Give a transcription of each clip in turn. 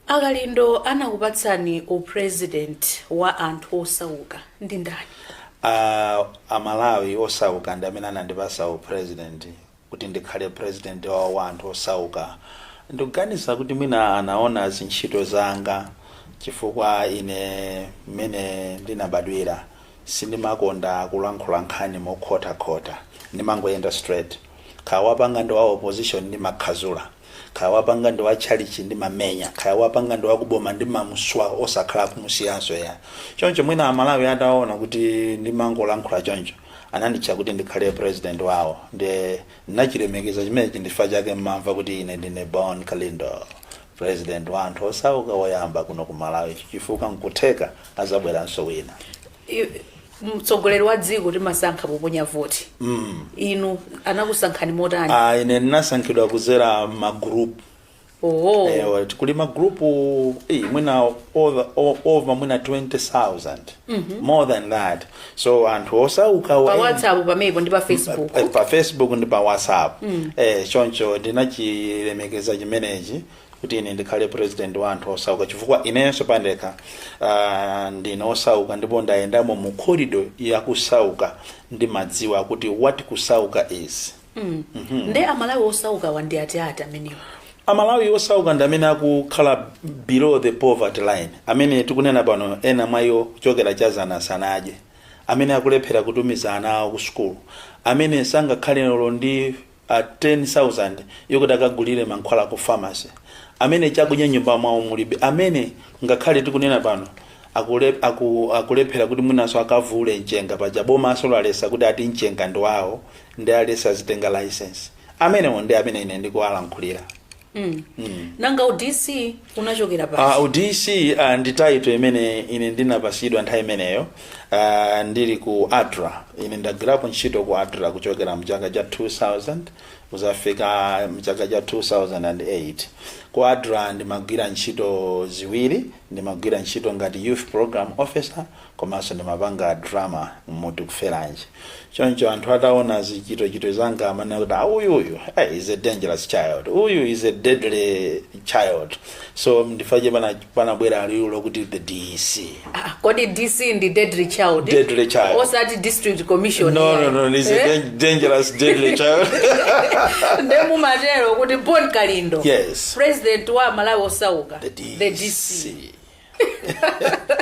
A Kalindo anakupatsani u president wa anthu osauka ndi ndani? A a Malawi osauka ndi amene anandipatsa u president kuti ndikhale president wawo wa anthu osauka. Ndikuganiza kuti mwina anaona zintchito zanga chifukwa ine mmene ndinabadwira sindimakonda kulankhula nkhani mokhotakhota ndimangoyenda straight. Kaya wapanga ndi wa opposition ndimakhazula. kaya wapanga ndi watchalitchi ndimamenya kaya wapanga ndi wakuboma ndimamuswa osakhala kumusiyanso ya choncho mwina amalawi ataona kuti ndimangolankhula choncho ananditcha kuti ndikhale president wawo nde ndinachilemekeza chimenechi ndi chifukwa chake mumamva kuti ine ndine bon kalindo president wa anthu osauka woyamba kuno ku malawi chifukwa nkutheka adzabweranso wina mtsogoleri wa dziko timasankha poponya voti inu anakusankhani motani Ah, ine ndinasankhidwa kudzera magroup oho Eh, kuli magroup eh, mwina over, o- over mwina 20000 more than that so anthu osauka pa wa- whatsapp pamenepo ndi pa facebook Eh, pa facebook ndi pa whatsapp eh, choncho ndinachilemekeza chimenechi kuti ine ndikhale president wa anthu osauka chifukwa inenso pandekha uh, ndine osauka ndipo ndayendamo mu corridor ya kusauka ndimadziwa kuti what kusauka is mm. mm -hmm. nde amalawi osauka wo ndi atiati amenewa amalawi osauka ndi amene akukhala below the poverty line amene tikunena pano ena mwa iwo kuchokera cha dzana sanadye amene akulephera kutumiza ana awo ku sukulu amene sangakhale lero ndi a 10,000 yokuti akagulire mankhwala ku pharmacy, amene chakudya m'nyumba mwawo mulibe, amene ngakhale tikunena pano akule, aku, akulephera kuti mwinanso akavule mchenga paja bomanso laletsa kuti ati mchenga ndi wawo nde aletsa azitenga license amenewo ndi amene ine ndikuwalankhulira mm. mm. nanga u DC unachokera pati uh, ah, u DC uh, ah, ndi title imene ine ndinapatsidwa nthawi imeneyo uh, ndili ku adra ine ndagwirapo ntchito ku adra kuchokera mchaka cha 2000 kudzafika mchaka cha 2008 ku adra ndimagwira ntchito ziwiri ndimagwira ntchito ngati youth program officer komanso ndimapanga drama mu tikuferanji choncho anthu ataona zochitachita zanga amanena kuti "Ah, uyu uyu eh, is a dangerous child uyu is a deadly child so ndi chifukwa chake pana- panabwera liwu lokuti the dc Ah, kodi dc ndi deadly child Deadly child. osati district commissioner no no no is a Eh? dan- dangerous deadly child nde mumatero kuti bon kalindo yes president wa malawi osauka the dc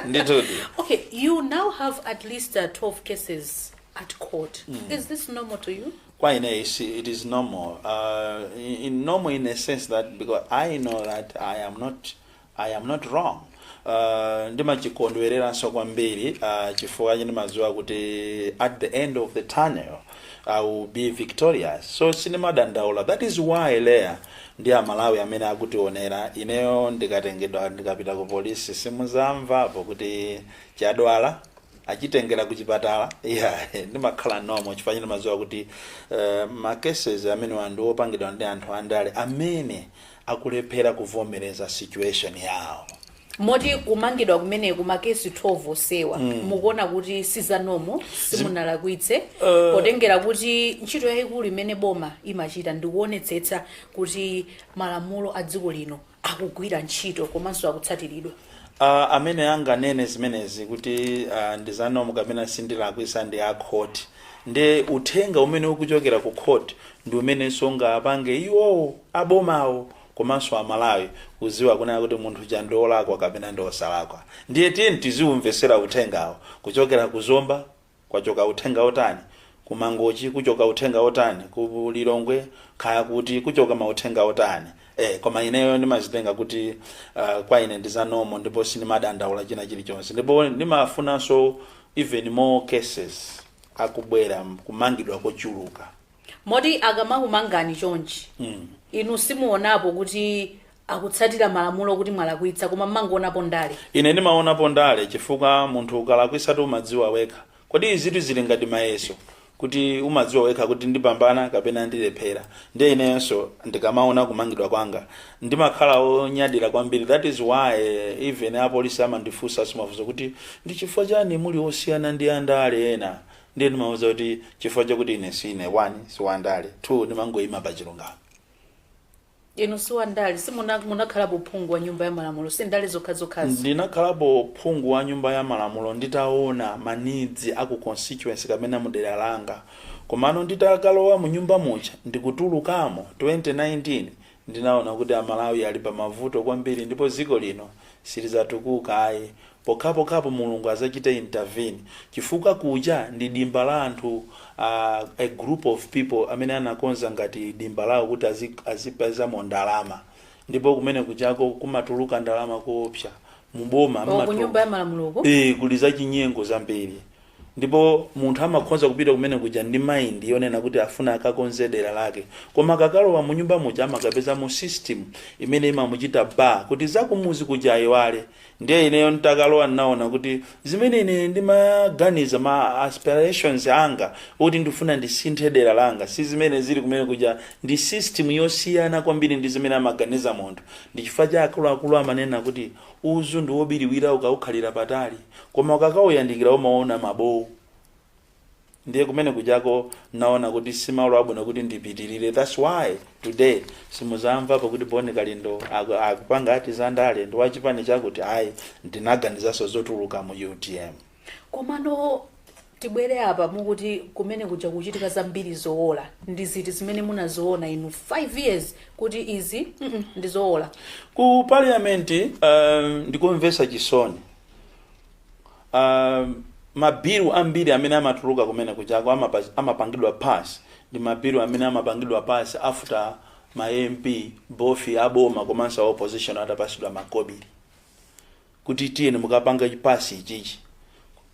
ndithudi Okay, you now have at least uh, 12 cases at court. Is this normal to you? Why no, it's, it is normal. Uh, in, in normal in a sense that because I know that I am not I am not wrong. Uh, ndimachikondwereranso kwambiri uh, chifukwa chino mazuwa kuti at the end of the tunnel I will be victorious so sindimadandaula that is why Leah ndi amalawi amene akutionera, ineyo ndikatengedwa ndikapita ku polisi simuzamvapo kuti chadwala achitengera ku chipatala yeah, ndimakhala nomo chifukwa ndimadziwa kuti uh, ma cases amenewa ndi opangidwa ndi anthu andale amene akulephera kuvomereza situation yawo moti kumangidwa kumeneku makesi 12 onsewa mukuona kuti si za normal simunalakwitse potengera kuti ntchito yayikulu imene boma imachita ndikuonetsetsa kuti malamulo a dziko lino akugwira ntchito komanso akutsatiridwa Uh, amene anganene zimenezi kuti uh, ndi za normal kapena sindilakwitsa ndi a court ndi uthenga umene ukuchokera ku court ndi umenenso ungapange iwowo abomawo komanso a Malawi kuziwa kunena kuti munthu uja ndi olakwa kapena ndi osalakwa ndiye tiyeni tiziumvesera uthengawo kuchokera ku Zomba kwachoka uthenga otani ku Mangochi kuchoka uthenga otani ku Lilongwe kaya kuti kuchoka mauthenga wotani ee koma ineyo ndimazitenga kuti uh, kwa ine ndi za normal ndipo sindimadandaula china chilichonse ndipo ndimafunanso even more cases akubwera kumangidwa kochuluka moti akamakumangani chonchi inu simuonapo kuti akutsatira malamulo kuti mwalakwitsa koma mmangoonapo ndale ine ndimaonapo ndale chifukwa munthu ukalakwitsatu umadziwa wekha kodi izitu zili ngati mayeso kuti umadziwa wekha kuti ndipambana kapena ndilephera ndiye ineyonso ndikamaona kumangidwa kwanga ndimakhala onyadira kwambiri that is why even apolisi amandifunsa mafunso kuti ndi chifukwa chani muli osiyana ndi andale ena Ndiye ndimawauza kuti chifukwa chakuti ine siine 1 si wandale 2 ndimangoima pa chilungamo. Inu si wandale? Si munakhalapo phungu wa nyumba ya malamulo? Si ndale zokhazokhazi? Ndinakhalapo phungu wa nyumba ya malamulo nditaona ma needs a ku constituency kapena mu dera langa komano nditakalowa mu nyumba muja ndikutulukamo 2019 Ndinaona kuti a Malawi ali pa mavuto kwambiri ndipo dziko lino silizatukuka ayi pokhapokhapo Mulungu azachite intervene chifukwa kuja ndi dimba la anthu a a group of people amene anakonza ngati dimba lawo kuti azipezamo ndalama ndipo kumene kujako kumatuluka ndalama koopsa, mu boma O, ku Nyumba ya Malamuloku? ee kuli zachinyengo zambiri. ndipo munthu amakhoza kupita kumene kuja ndi mind yonena kuti afuna akakonze dera lake koma akakalowa mu nyumba muja amakapezamo system imene imamuchita bar kuti zakumuzi kuja ayiwale ndiye ineyo ntakalowa ndinaona kuti zimene ine ndimaganiza ma aspirations anga kuti ndifuna ndisinthe dera langa si zimene zili kumene kuja ndi system yosiyana kwambiri ndi zimene amaganiza munthu ndi chifukwa cha akuluakulu amanena kuti uzu ndi wobiriwira ukawukhalira patali Koma ukakauyandikira umaona mabowo ndiye kumene kujako naona kuti si malo abwino kuti ndipitirire thats why today simuzamvapo kuti boni kalindo aku- akupanga ati za ndale ndi wachipani chakuti ayi ndinaganizanso zotuluka mu utm koma Tibwere apa mukuti kumene kuja kukuchitika zambiri zoola ndi ziti zimene munaziona inu 5 years kuti izi mm ndi zoola? Ku parliament um, ndi komvesa chisoni um, mabilu ambiri amene amatuluka kumene kujako amapa- amapangidwa pass ndi mabilu amene amapangidwa pass after ma MP both aboma komanso a opposition atapasidwa makobiri kuti tiyeni mukapange chi pass ichichi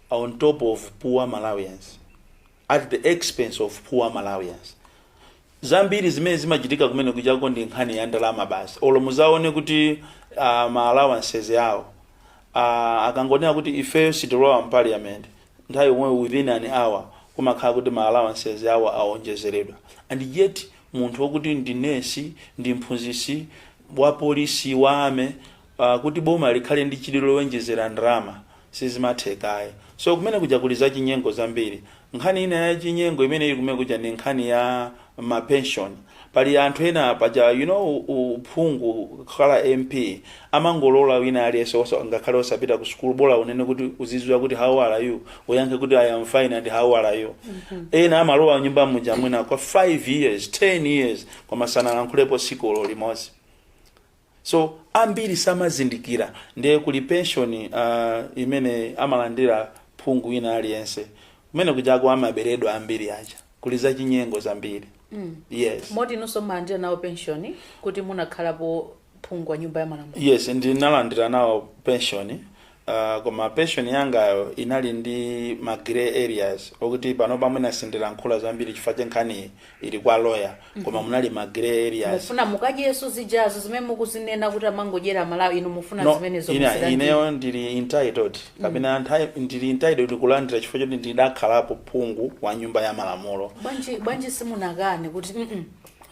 on top of poor Malawians, at the expense of poor Malawians. Zambiri zimene zimachitika kumene kujako ndi nkhani ya ndalama basi. Olo muzaone kuti uh, ma allowances awo uh, akangonena kuti ifeyo sitilowa mu parliament nthawi yomweyo within an hour kumakhala kuti ma allowances awo aonjezeredwa and yet munthu wokuti ndi nesi ndi mphunzisi wa polisi wa army uh, kuti boma likhale ndi chidwi lowonjezera ndalama sizimatheka ayi so kumene kuja kuli zachinyengo zambiri nkhani ina ya chinyengo imene ili kumene kuja ndi nkhani ya mapension pali anthu ena paja you know u- uphungu kukhala mp amangolola wina aliyense osa- ngakhale osapita ku sukulu bola kunena kuti uzidziwa kuti how are you uyankhe kuti i am fine and how are you ena amalowa nyumba muja mwina kwa 5 years 10 years koma sanalankhulepo tsiku olo limodzi so ambiri samazindikira ndiye kuli pension uh, imene amalandira phungu wina aliyense kumene kujako amaberedwa ambiri aja kuli zachinyengo zambiri mm. yes moti inunso munalandira nawo penshoni kuti munakhalapo phungu wa nyumba ya malamulo yes ndinalandira nawo pension Uh, koma pension yangayo inali ndi ma grey areas okuti panopa mwina sindilankhula zambiri chifukwa choti nkhaniyi ili kwa lawyer koma munali ma grey areas mufuna mukadyeso zijazo zimene mukuzinena kuti amangodyera malawi inu mufuna nazo zimenezo inu muzilandire. ineyo ndili entitled kapena nthawi- ndili entitled kulandira chifukwa choti ndidakhalapo phungu wa nyumba ya malamulo bwanji bwanji simunakane kuti mm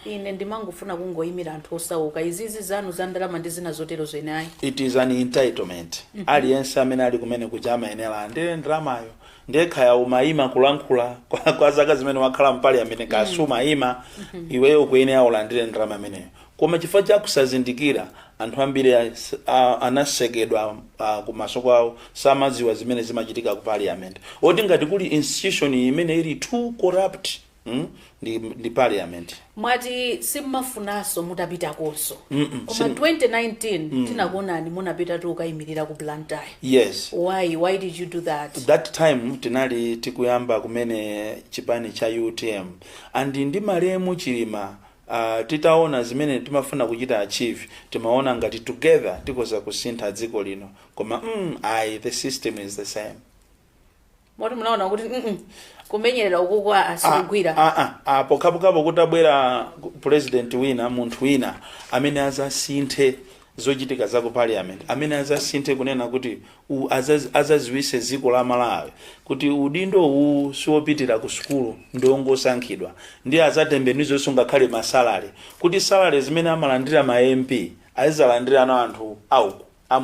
Ine ndimangofuna kungoyimira anthu osauka. Izizi zanu za ndalama ndi zina zoterozo ine ayi. It is an entitlement. Aliyense amene ali kumene kuja amayenera alandire ndalamayo. Ndiye kaya umayima kulankhula kwa, kwa zaka zimene wakhala m'paliyamenti kaya sumayima iweyo ukuyenera ulandire ndalama imeneyo. Koma chifukwa cha kusazindikira anthu ambiri a- s- a- anasekedwa ah, kumaso kwawo samadziwa zimene zimachitika ku parliament. Oti ngati kuli institution imene ili too corrupt mm? ndi, ndi parliament mwati simumafunanso, mutapitakonso Mm-mm, koma sim- 2019 tinakuonani munapitatu kukayimirira ku blantyre yes why why did you do that that time tinali tikuyamba kumene chipani cha utm and ndi malemu chilima uh, titaona zimene timafuna kuchita achieve timaona ngati together tikoza kusintha dziko lino koma mm, ayi the system is the same moti munaona kuti mm kumenyerera ukuku a- asikugwira Ah, ah, ah, pokhapokhapo kutabwera president wina munthu wina amene azasinthe zochitika za ku parliament amene azasinthe kunena kuti u- azaz- azaziwise dziko la malawi kuti udindo uwu siwopitira ku sukulu ndi ongosankhidwa ndiye azatembenuzenso ngakhale ma salary kuti salary zimene amalandira ma mp azizalandira ana anthu auku a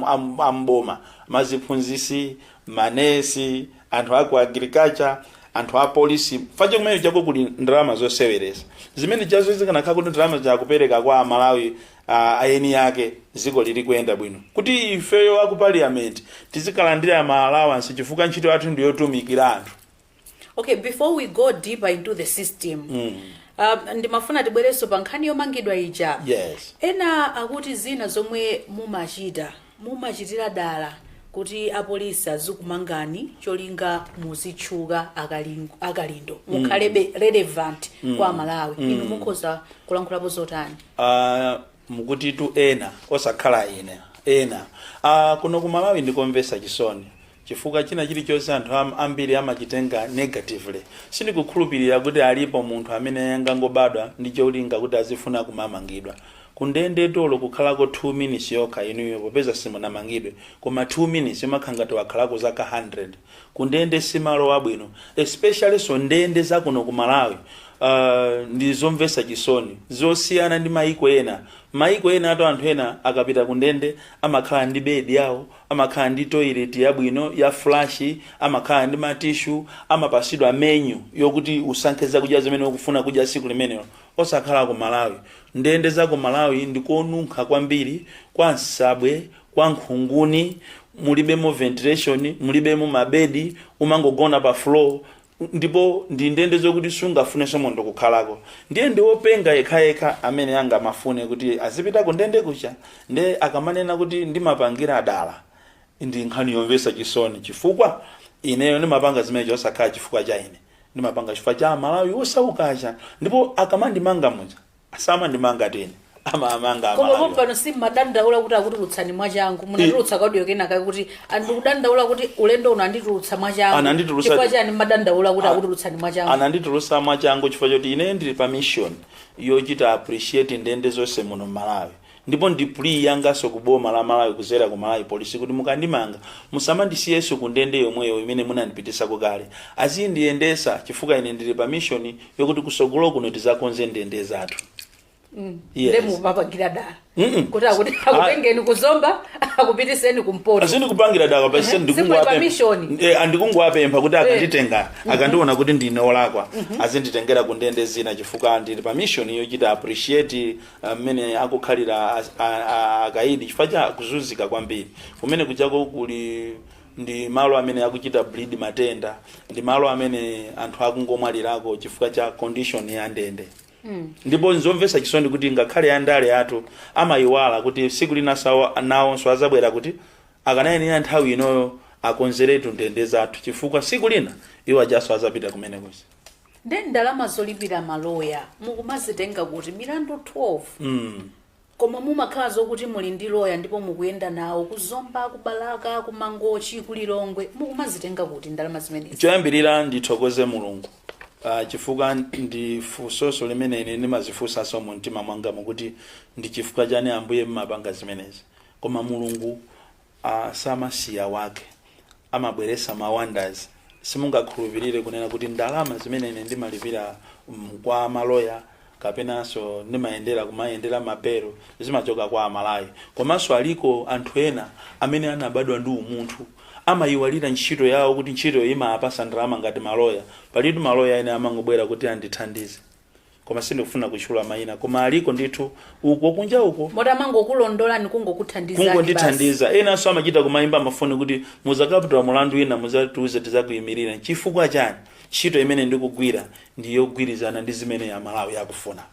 m'boma, maziphunzisi, ma nesi, anthu a ku agriculture, anthu a polisi chifukwa cha kumeneko kuli ndalama zoseweresa zimenezo zikanakhala kuti ndalamazo akupereka kwa amalawi ah, eni ake dziko lili kuyenda bwino kuti ifeyo aku parliament tizikalandira ma allowance chifukwa ntchito yathu ndiyotumikira anthu okay before we go deeper into the system mm. um, ndimafuna tibwerenso pa nkhani yomangidwa ija yes ena akuti zina zomwe mumachita mumachitira dala kuti apolisi azikumangani cholinga muzitchuka akaling- akalindo mukhalebe relevant kwa amalawi inu mukhoza kulankhulapo zotani Ah, mukutitu, ena osakhala ine ena Ah, kuno ku malawi ndikomvesa chisoni Chifukwa china chilichonse anthu am, ambiri amachitenga negatively. Sindikukhulupilira kuti alipo munthu amene angangobadwa ndi cholinga kuti azifuna kumamangidwa. Kundendetu olo kukhalako 2 minutes yokha inuyo popeza simunamangidwe koma 2 minutes imakhala ngati wakhalako zaka 100. Kundende simalo abwino especiallyso ndende zakuno ku Malawi aah ndi zomvesa chisoni zosiyana ndi maiko ena. Maiko enatu anthu ena akapita kundende amakhala ndi bed yawo, Amakhala ndi toilet yabwino ya flush, amakhala ndi ma tissue, amapasidwa menu yokuti usankhe zakudya zimene ukufuna kudya siku limenelo. Osakhala ku Malawi. Ndende za ku Malawi ndi konunkha kwambiri, kwa nsabwe, kwa nkhunguni, mulibemo ventilation, mulibemo mabedi, umangogona pa floor. ndipo ndi ndende zokuti sungafunenso munthu kukhalako ndiye ndi wopenga yekhayekha amene angamafune kuti azipita ku ndendeku nde akamanena kuti ndimapangira dala ndi nkhani yomvetsa chisoni chifukwa ineyo ndimapanga zimenezo osakhala chifukwa cha ine ndimapanga chifukwa cha amalawi osauka ndipo akamandimanga muja samandimanga ine amamanga koma amalawi pompano simmadandaula kuti akutulutsani mwachangu munatulutsa kaudio kenaka kuti andikudandaula kuti ulendo uno anditulutsa mwachangu Ananditulutsa- chifukwa chani mmadandaula kuti akutulutsani mwachangu ananditulutsa mwachangu chifukwa choti ine ndili pa mission yochita appreciate ndende zonse muno mmalawi Ndipo ndi plea yanganso ku boma la Malawi kuzera ku Malawi police kuti mukandimanga musamandisiyenso ku ndende yomweyo imene munandipitisako kale. Azindiyendesa chifukwa ine ndili pa mission yokuti kusogolo kuno tizakonze ndende zathu. Nde Yes. mumapangira dala. Mm-mm. Kuti akuti Ah. akutengeni ku Zomba akupitiseni ku Mpoto. Ayi sikupangira dala pa chisen Zimwe pa ndikungwapempha. mission. Eh andikungwapempha kuti akanditenga akandiona kuti ndine olakwa. Azinditengera ku ndende zina chifukwa ndili pa mission yochita appreciate ah, mmene akukhalira a- a- a- akaidi chifukwa cha kuzunzika kwambiri kumene kuchako kuli ndi malo amene akuchita bleed matenda ndi malo amene anthu akungomwalirako chifukwa cha condition ya ndende ndipo nzomvesa chisoni kuti ngakhale andale athu amayiwala kuti siku lina iwo nawonso azabwera kuti akanayenera nthawi inoyo akonzeretu ndende zathu chifukwa siku lina iwo ajanso azapita kumene kuja Nde ndalama zolipira ma lawyer mukumazitenga kuti? Milandu 12 koma mumakhala zokuti muli ndi lawyer ndipo mukuyenda nawo ku Zomba, ku Balaka, ku Mangochi, ku Lilongwe. Mukumazitenga kuti ndalama zimenezi? Choyambirira ndithokoze Mulungu ah, chifukwa ndi funsoso limene ine ndimazifunsanso mu mtima mwanga mu kuti ndi chifukwa chani Ambuye mmapanga zimenezi, koma Mulungu Aaa samasiya wake amabweresa ma wanders simungakhulupilire kunena kuti ndalama zimene ine ndimalipira kwa ma lawyer kapenanso ndimayendera kumayendera ma belo zimachoka kwa amalawi komanso aliko anthu ena amene anabadwa ndi umunthu amayiwalira ntchito yawo kuti ntchitoyo imapasa ndalama ngati ma lawyer palitu ma lawyer ena amangobwera kuti andithandize koma sindikufuna kutchula mayina koma aliko ndithu uko kunja uko moti amangokulondola ndikungokuthandizani kungondithandiza enanso amachita kumayimba mafoni kuti muzakaputula mulandu wina muzatiuze tizakuyimirira chifukwa chani ntchito imene ndikugwira ndi yogwirizana ndi zimene amalawi akufuna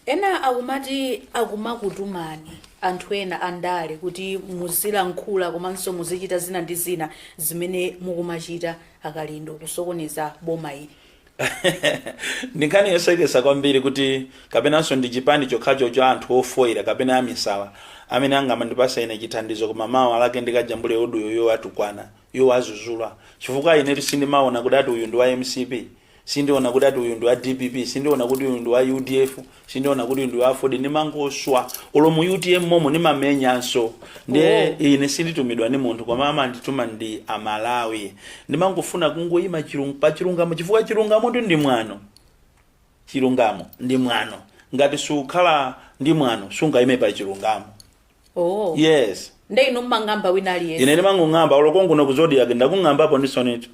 ena akumati akumakutumani anthu ena andale kuti muzilankhula komanso muzichita zina ndi zina zimene mukumachita a Kalindo kusokoneza boma ili ndi nkhani yosekesa kwambiri kuti kapenanso ndi chipani chokhacho cha anthu ofoira kapena amisala amene angamandipasa ine chithandizo koma mawa lake ndikajambule audio yowatukwana yowazuzula chifukwa inetu sindimaona kuti ati uyu ndi wa mcp sindiona kuti ati uyu ndi wa dpp sindiona kuti uyu ndi wa udf sindiona kuti uyu ndi wafodi ndimangoswa ulo mu utm momo ndimamenyanso ndiye Oh. ine sinditumidwa ndi munthu koma amandituma ndi Amalawi ndimangofuna kungoyima chilung- pa chilungamo chifukwa chilungamo ndi ndi mwano chilungamo ndi mwano ngati sukhala ndi mwano sungayime pa chilungamo oh yes nde ine ndimang'amba wina aliyense ine ndimangong'amba olo konkuno ku Zodiak ndakung'ambapo ndithu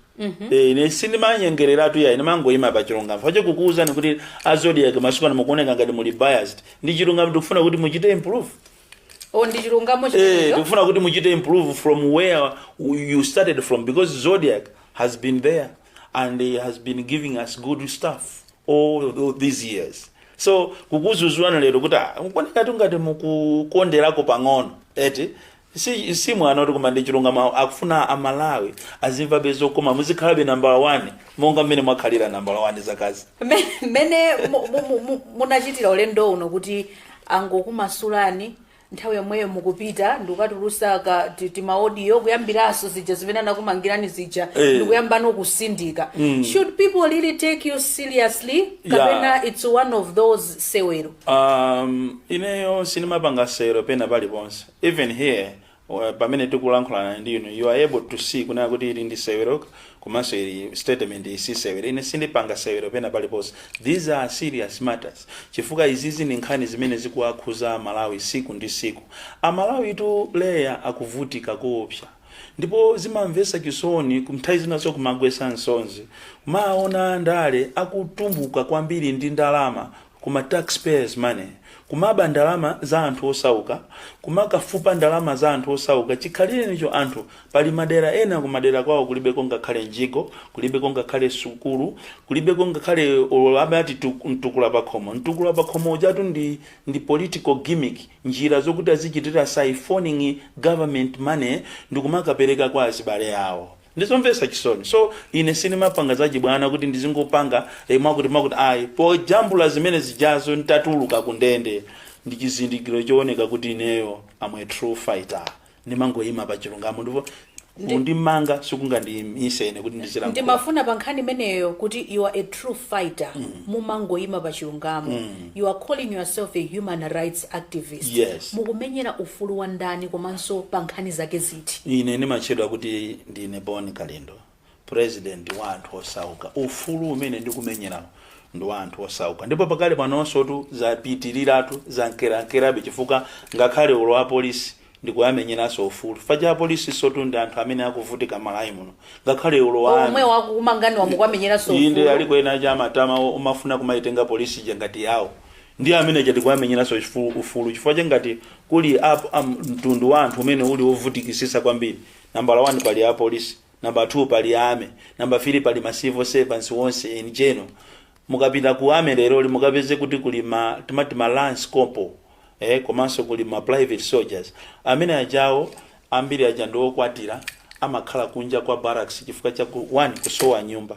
Eh, ine sindimanyengereratu ya ine ndimangoyima pa chilungamo fache kukuwuzani kuti a Zodiak masiku ano mukuoneka ngati muli biased ndi chilungamo tikufuna kuti muchite improve oh ndi chilungamo Eh, chimenecho tikufuna kuti muchite improve from where you started from because Zodiak has been there and has been giving us good stuff all tho- these years so kukuuzani lero kuti "Ah, kuoneka ngati mukukonderako pang'ono eti si, si mwano oti koma ndi chilungamo akufuna Amalawi azimvabe zokoma muzikhalabe nambala 1 monga mmene mwakhalira nambala 1 zakazi Me- mmene mu- mu- mu- mu- munachitira ulendo uno kuti angokumasulani nthawi yomweyo mukupita ndikukatulusa ka ti- timaodiyo kuyambiranso zija zimene anakumangirani zija Eh. ndikuyambanso kusindika should people really take you seriously kapena it's one of those sewero um, ineyo sindimapanga sewero pena paliponse even here uh, pamene tikulankhulana ndi inu you are able to see kunena kuti ili ndi sewero komanso iyi statement iyi si sewero ine sindipanga sewero pena paliponse these are serious matters chifukwa izizi ndi nkhani zimene zikuwakhuza Amalawi siku ndi siku Amalawi tu leya akuvutika koopsa ndipo zimamvesa chisoni nthawi zinaso kumagwesa nsonzi kumaona andale akutumbuka kwambiri ndi ndalama ku ma tax payers money, kumaba ndalama za anthu osauka, kumakafupa ndalama za anthu osauka, chikhalirenicho anthu, pali madera ena kumadera kwao kulibeko ngakhale mjigo, kulibeko ngakhale sukulu, kulibeko ngakhale olo amati tu, mtukula pakhomo, mtukula pakhomo ujatu ndi, ndi political gimmick, njira zokuti azichitira siphoning government money ndikumakapeleka kwa azibale awo. Ndizomvetsa chisoni so ine sindimapanga zachibwana kuti ndizingopanga eh, mwakuti mwakuti ayi pojambula zimene zijazo nditatuluka ku ndende ndi chizindikiro chooneka kuti ineyo am a true fighter ndimangoyima pa chilungamo ndipo Ndi- kundimanga sikungandiyimise ine kuti ndizilankhula ndimafuna pa nkhani imeneyo kuti you are a true fighter mumangoyima pa chilungamo you are calling yourself a human rights activist Yes. mukumenyera ufulu wa ndani komanso pa nkhani zake ziti Street. Ine ndimatchedwa kuti ndine Bon Kalindo, president wa anthu osauka. Ufulu umene ndikumenyerawu ndi wa anthu osauka ndipo pakali panonsotu zapitiliratu, zankerankerabe chifukwa ngakhale olo apolisi ndikuwamenyeranso ufulu chifukwa cha apolisinsotu ndi anthu amene akuvutika Malawi muno ngakhale olo Omwe amene akukumanganiwa mukuwamenyeranso inde ufulu. aliko ena chabe ma- o- omafuna kumaitenga polisi ija ngati yawo Ndiye amene aja tikuwamenyeranso chifu- ufulu chifukwa cha ngati kuli ap, am, mtundu wa anthu umene uli wovutikisisa kwambiri nambala 1 pali apolisi namba 2 pali army namba 3 pali ma civil servants onse in general mukapita ku army leroli mukapeze kuti kuli ma timati ma lance corporal eh, komanso kuli ma private soldiers amene ajawo ambiri aja ndi okwatira amakhala kunja kwa barracks chifukwa cha ku, one kusowa nyumba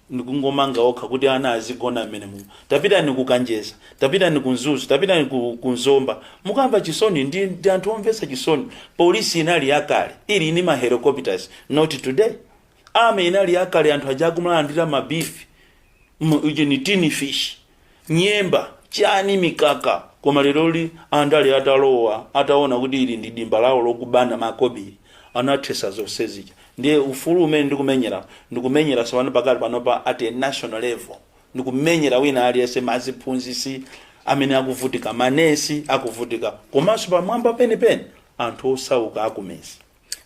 ndikungomanga okha kuti ana azigona mmene mumo tapitani ku kanjeza tapitani ku mzuzu tapitani ku, ku nzomba mukamva chisoni ndi, ndi anthu omvetsa chisoni polisi inali yakale ili ni ma helicopters not today army inali yakale anthu aja akumulandira ma beef ni tin fish nyemba chani mikaka koma leroli andale atalowa ataona kuti ili ndi dimba lawo lokubana makobiri anathesa zonse zija ndiye ufulu umene ndikumenyera ndikumenyera sopano pakati panopa at a national level ndikumenyera wina aliyense maziphunzisi amene akuvutika manesi akuvutika komanso pamwamba penepeni anthu osauka akumezi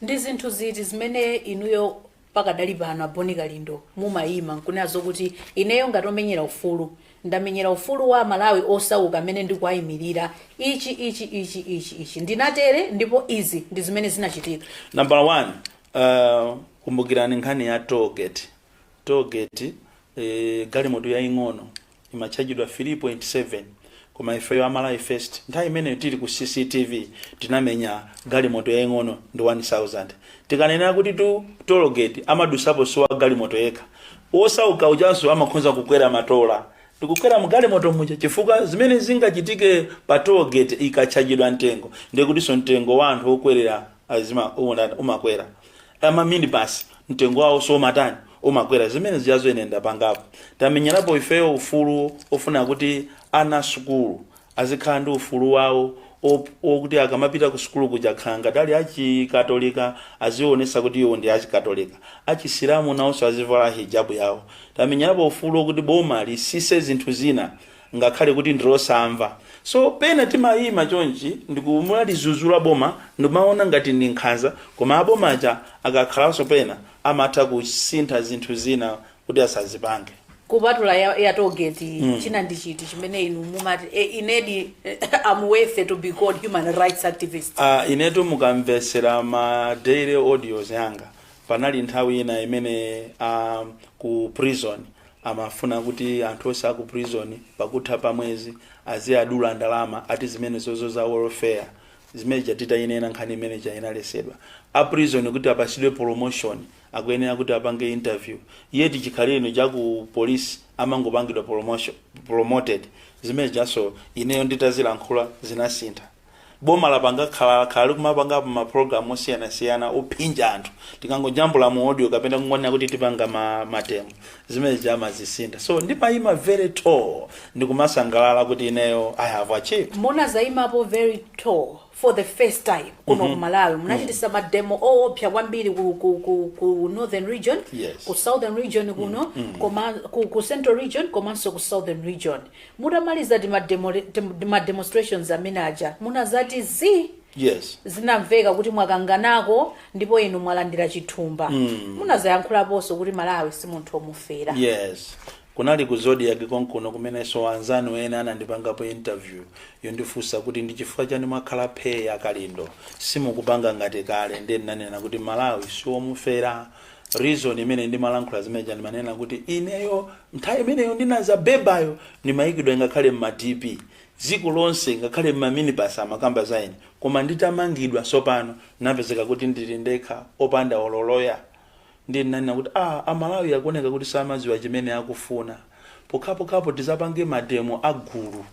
Ndi zinthu ziti zimene inuyo pakadali pano a Bon Kalindo mumayima nkunena zokuti ineyo ngati omenyera ufulu ndamenyera ufulu wa aMalawi osauka amene ndikuwayimilira ichi, ichi, ichi, ichi, ichi ndinatere ndipo izi ndi zimene zinachitika? Nambala 1, uh, kumbukirani nkhani ya toll gate. Toll gate eh, galimoto yaing'ono imatchajidwa 3.7 koma ifeyo a Malawi First nthawi imeneyo tili ku CCTV tinamenya galimoto yaing'ono ndi 1000. Tikanena kutitu tollgate amadusapo si wa galimoto yekha, wosauka ujanso amakhonza kukwera matola ndi kukwera mu galimoto muja chifukwa zimene zingachitike pa tollgate ikatchajidwa mtengo ndiye kutinso mtengo wa anthu okwerera umakwera. ama minibus mtengo wawo somatani umakwera zimene zijazo ine ndapangapo tamenyerapo ifeyo ufulu ofuna kuti ana asukulu azikhala ndi ufulu wawo op- wokuti akamapita ku sukulu kuja akhala ngati ali achikatolika azionesa kuti iwo ndi achikatolika achisilamu nawonso azivala hijabu yawo tamenyerapo ufulu wokuti boma lisise zinthu zina ngakhale kuti ndi losamva so pena timayima chonchi ndikumalizuzula boma limawona ngati ndi nkhanza koma aboma aja akakhalaso pena amatha kusintha zinthu zina kuti asazipange kupatula ya, ya toll gate mm. china ndi chiti chimene inu mumati e, inedi am worthy to be called human rights activist uh, inetu mukamvetsera ma daily audios yanga panali nthawi ina imene um, ku prison Amafuna kuti anthu onse aku prison pakutha pa mwezi aziadula ndalama ati zimenezozo za welfare zimene ija nditainena nkhani imene ija inalesedwa. A prison kuti apasidwe promotion akuyenera kuti apange interview yet chikhalirecho cha ku police amangopangidwa promotion promoted zimene zijanso ineyo nditazilankhula zinasintha. boma lapanga khala khala likumapangapo ma program osiyanasiyana ophinja anthu tikangojambula ma audio kapena kungonena kuti tipanga ma, mademo zimenezi amazisintha so ndimayima very tall ndikumasangalala kuti ineyo i have achieved Munazayimapo very tall for the first time kuno ku malawi munachitisa mademo oopsa kwambiri ku, ku, ku, ku northern region Yes. ku southern region kuno koma ku, ku central region komanso ku southern region Mutamaliza tima demo, tim- ma demonstrations amene aja munazati zii yes zinamveka kuti mwakanganako ndipo inu mwalandira chithumba mm. munazayankhulaponso kuti malawi si munthu omufera yes kunali ku zodiac konkuno kumenenso anzanu ena anandipangapo interview yondifunsa kuti ndi chifukwa chani mwakhala phe a Kalindo simukupanga ngati kale ndiye ndinanena kuti malawi siwomufera reason imene ndimalankhula zimeneja ndimanena kuti ineyo nthawi imeneyo ndinadza bebayo ndimayikidwa ngakhale mma dp dziko lonse ngakhale mma minibus amakamba za ine koma nditamangidwa sopano napezeka kuti ndili ndekha opanda olo loya ndiye ndinanena kuti ah amalawi akuoneka kuti samadziwa chimene akufuna pokhapokhapo tizapange mademo agulu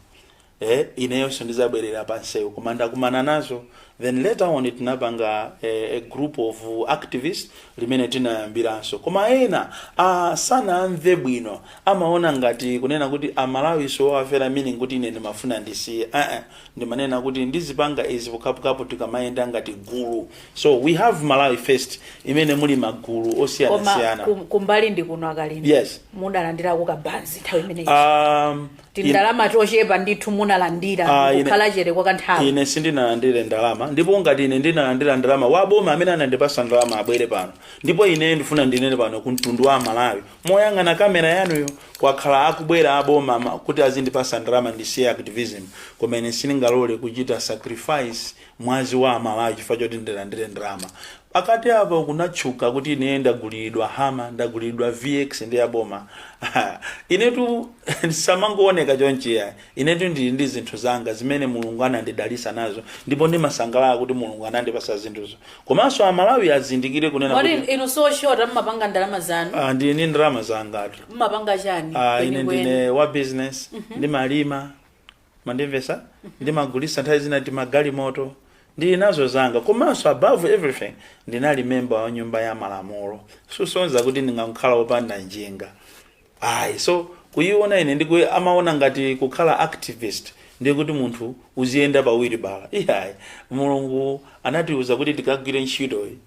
eh ineyonso ndizabwerera pansewu koma ndakumana nazo then later on tinapanga eh, a group of activists limene tinayambiranso koma ena ah, sanamve bwino amaona ngati kunena kuti amalawi siwowafera meaning kuti ine ndimafuna ndisiye uh -uh. ndimanena kuti ndizipanga izi pokhapokhapo tikamayenda ngati gulu so we have malawi first imene muli magulu koma osiyanasiyana kum- kumbali ndi kuno a Kalindo Yes. mudalandirako kabanzi nthawi imeneyi um, tindalama tochepa ndithu munalandira Ah, ine- kukhala chete kwa kanthawi ine sindinalandire ndalama ndipo ngati ine ndinalandira ndalama waboma amene anandipasa ndalama abwere pano ndipo ine ndifuna ndinene pano ku mtundu wa amalawi moyang'ana kamera yanuyo kwakhala akubwera aboma ma- kuti azindipasa ndalama ndisiye activism koma ine sindingalole kuchita sacrifice mwazi wa amalawi chifukwa choti ndilandire ndalama Pakati apa kunatchuka kuti ine ndagulilidwa Hummer, ndagulilidwa VX ndi a boma. Inetu musamangondiona chonchi iyayi. Inetu ndili ndi zinthu zanga zimene Mulungu anandidalitsa nazo ndipo ndimasangalala kuti Mulungu anandipatsa zinthuzo. Komanso Amalawi azindikire kunena Kodi kuti. inu sioshota mumapanga ndalama zanu? Ah, ndili ndi ndalama zangatu. Mumapanga chani Ah, ine ndine kwenikweni? wa business, ndimalima, mandimvesa ndimagulisa nthawi zina timagalimoto ndili nazo zanga komanso above everything ndinali memba wa nyumba ya malamulo kusonyeza kuti ndingakhala opanda njinga ayi so kuyiona ine ndiku amaona ngati kukhala activist ndiye kuti munthu uziyenda pawiri bala iyayi mulungu anatiuza kuti tikagwire ntchitoyi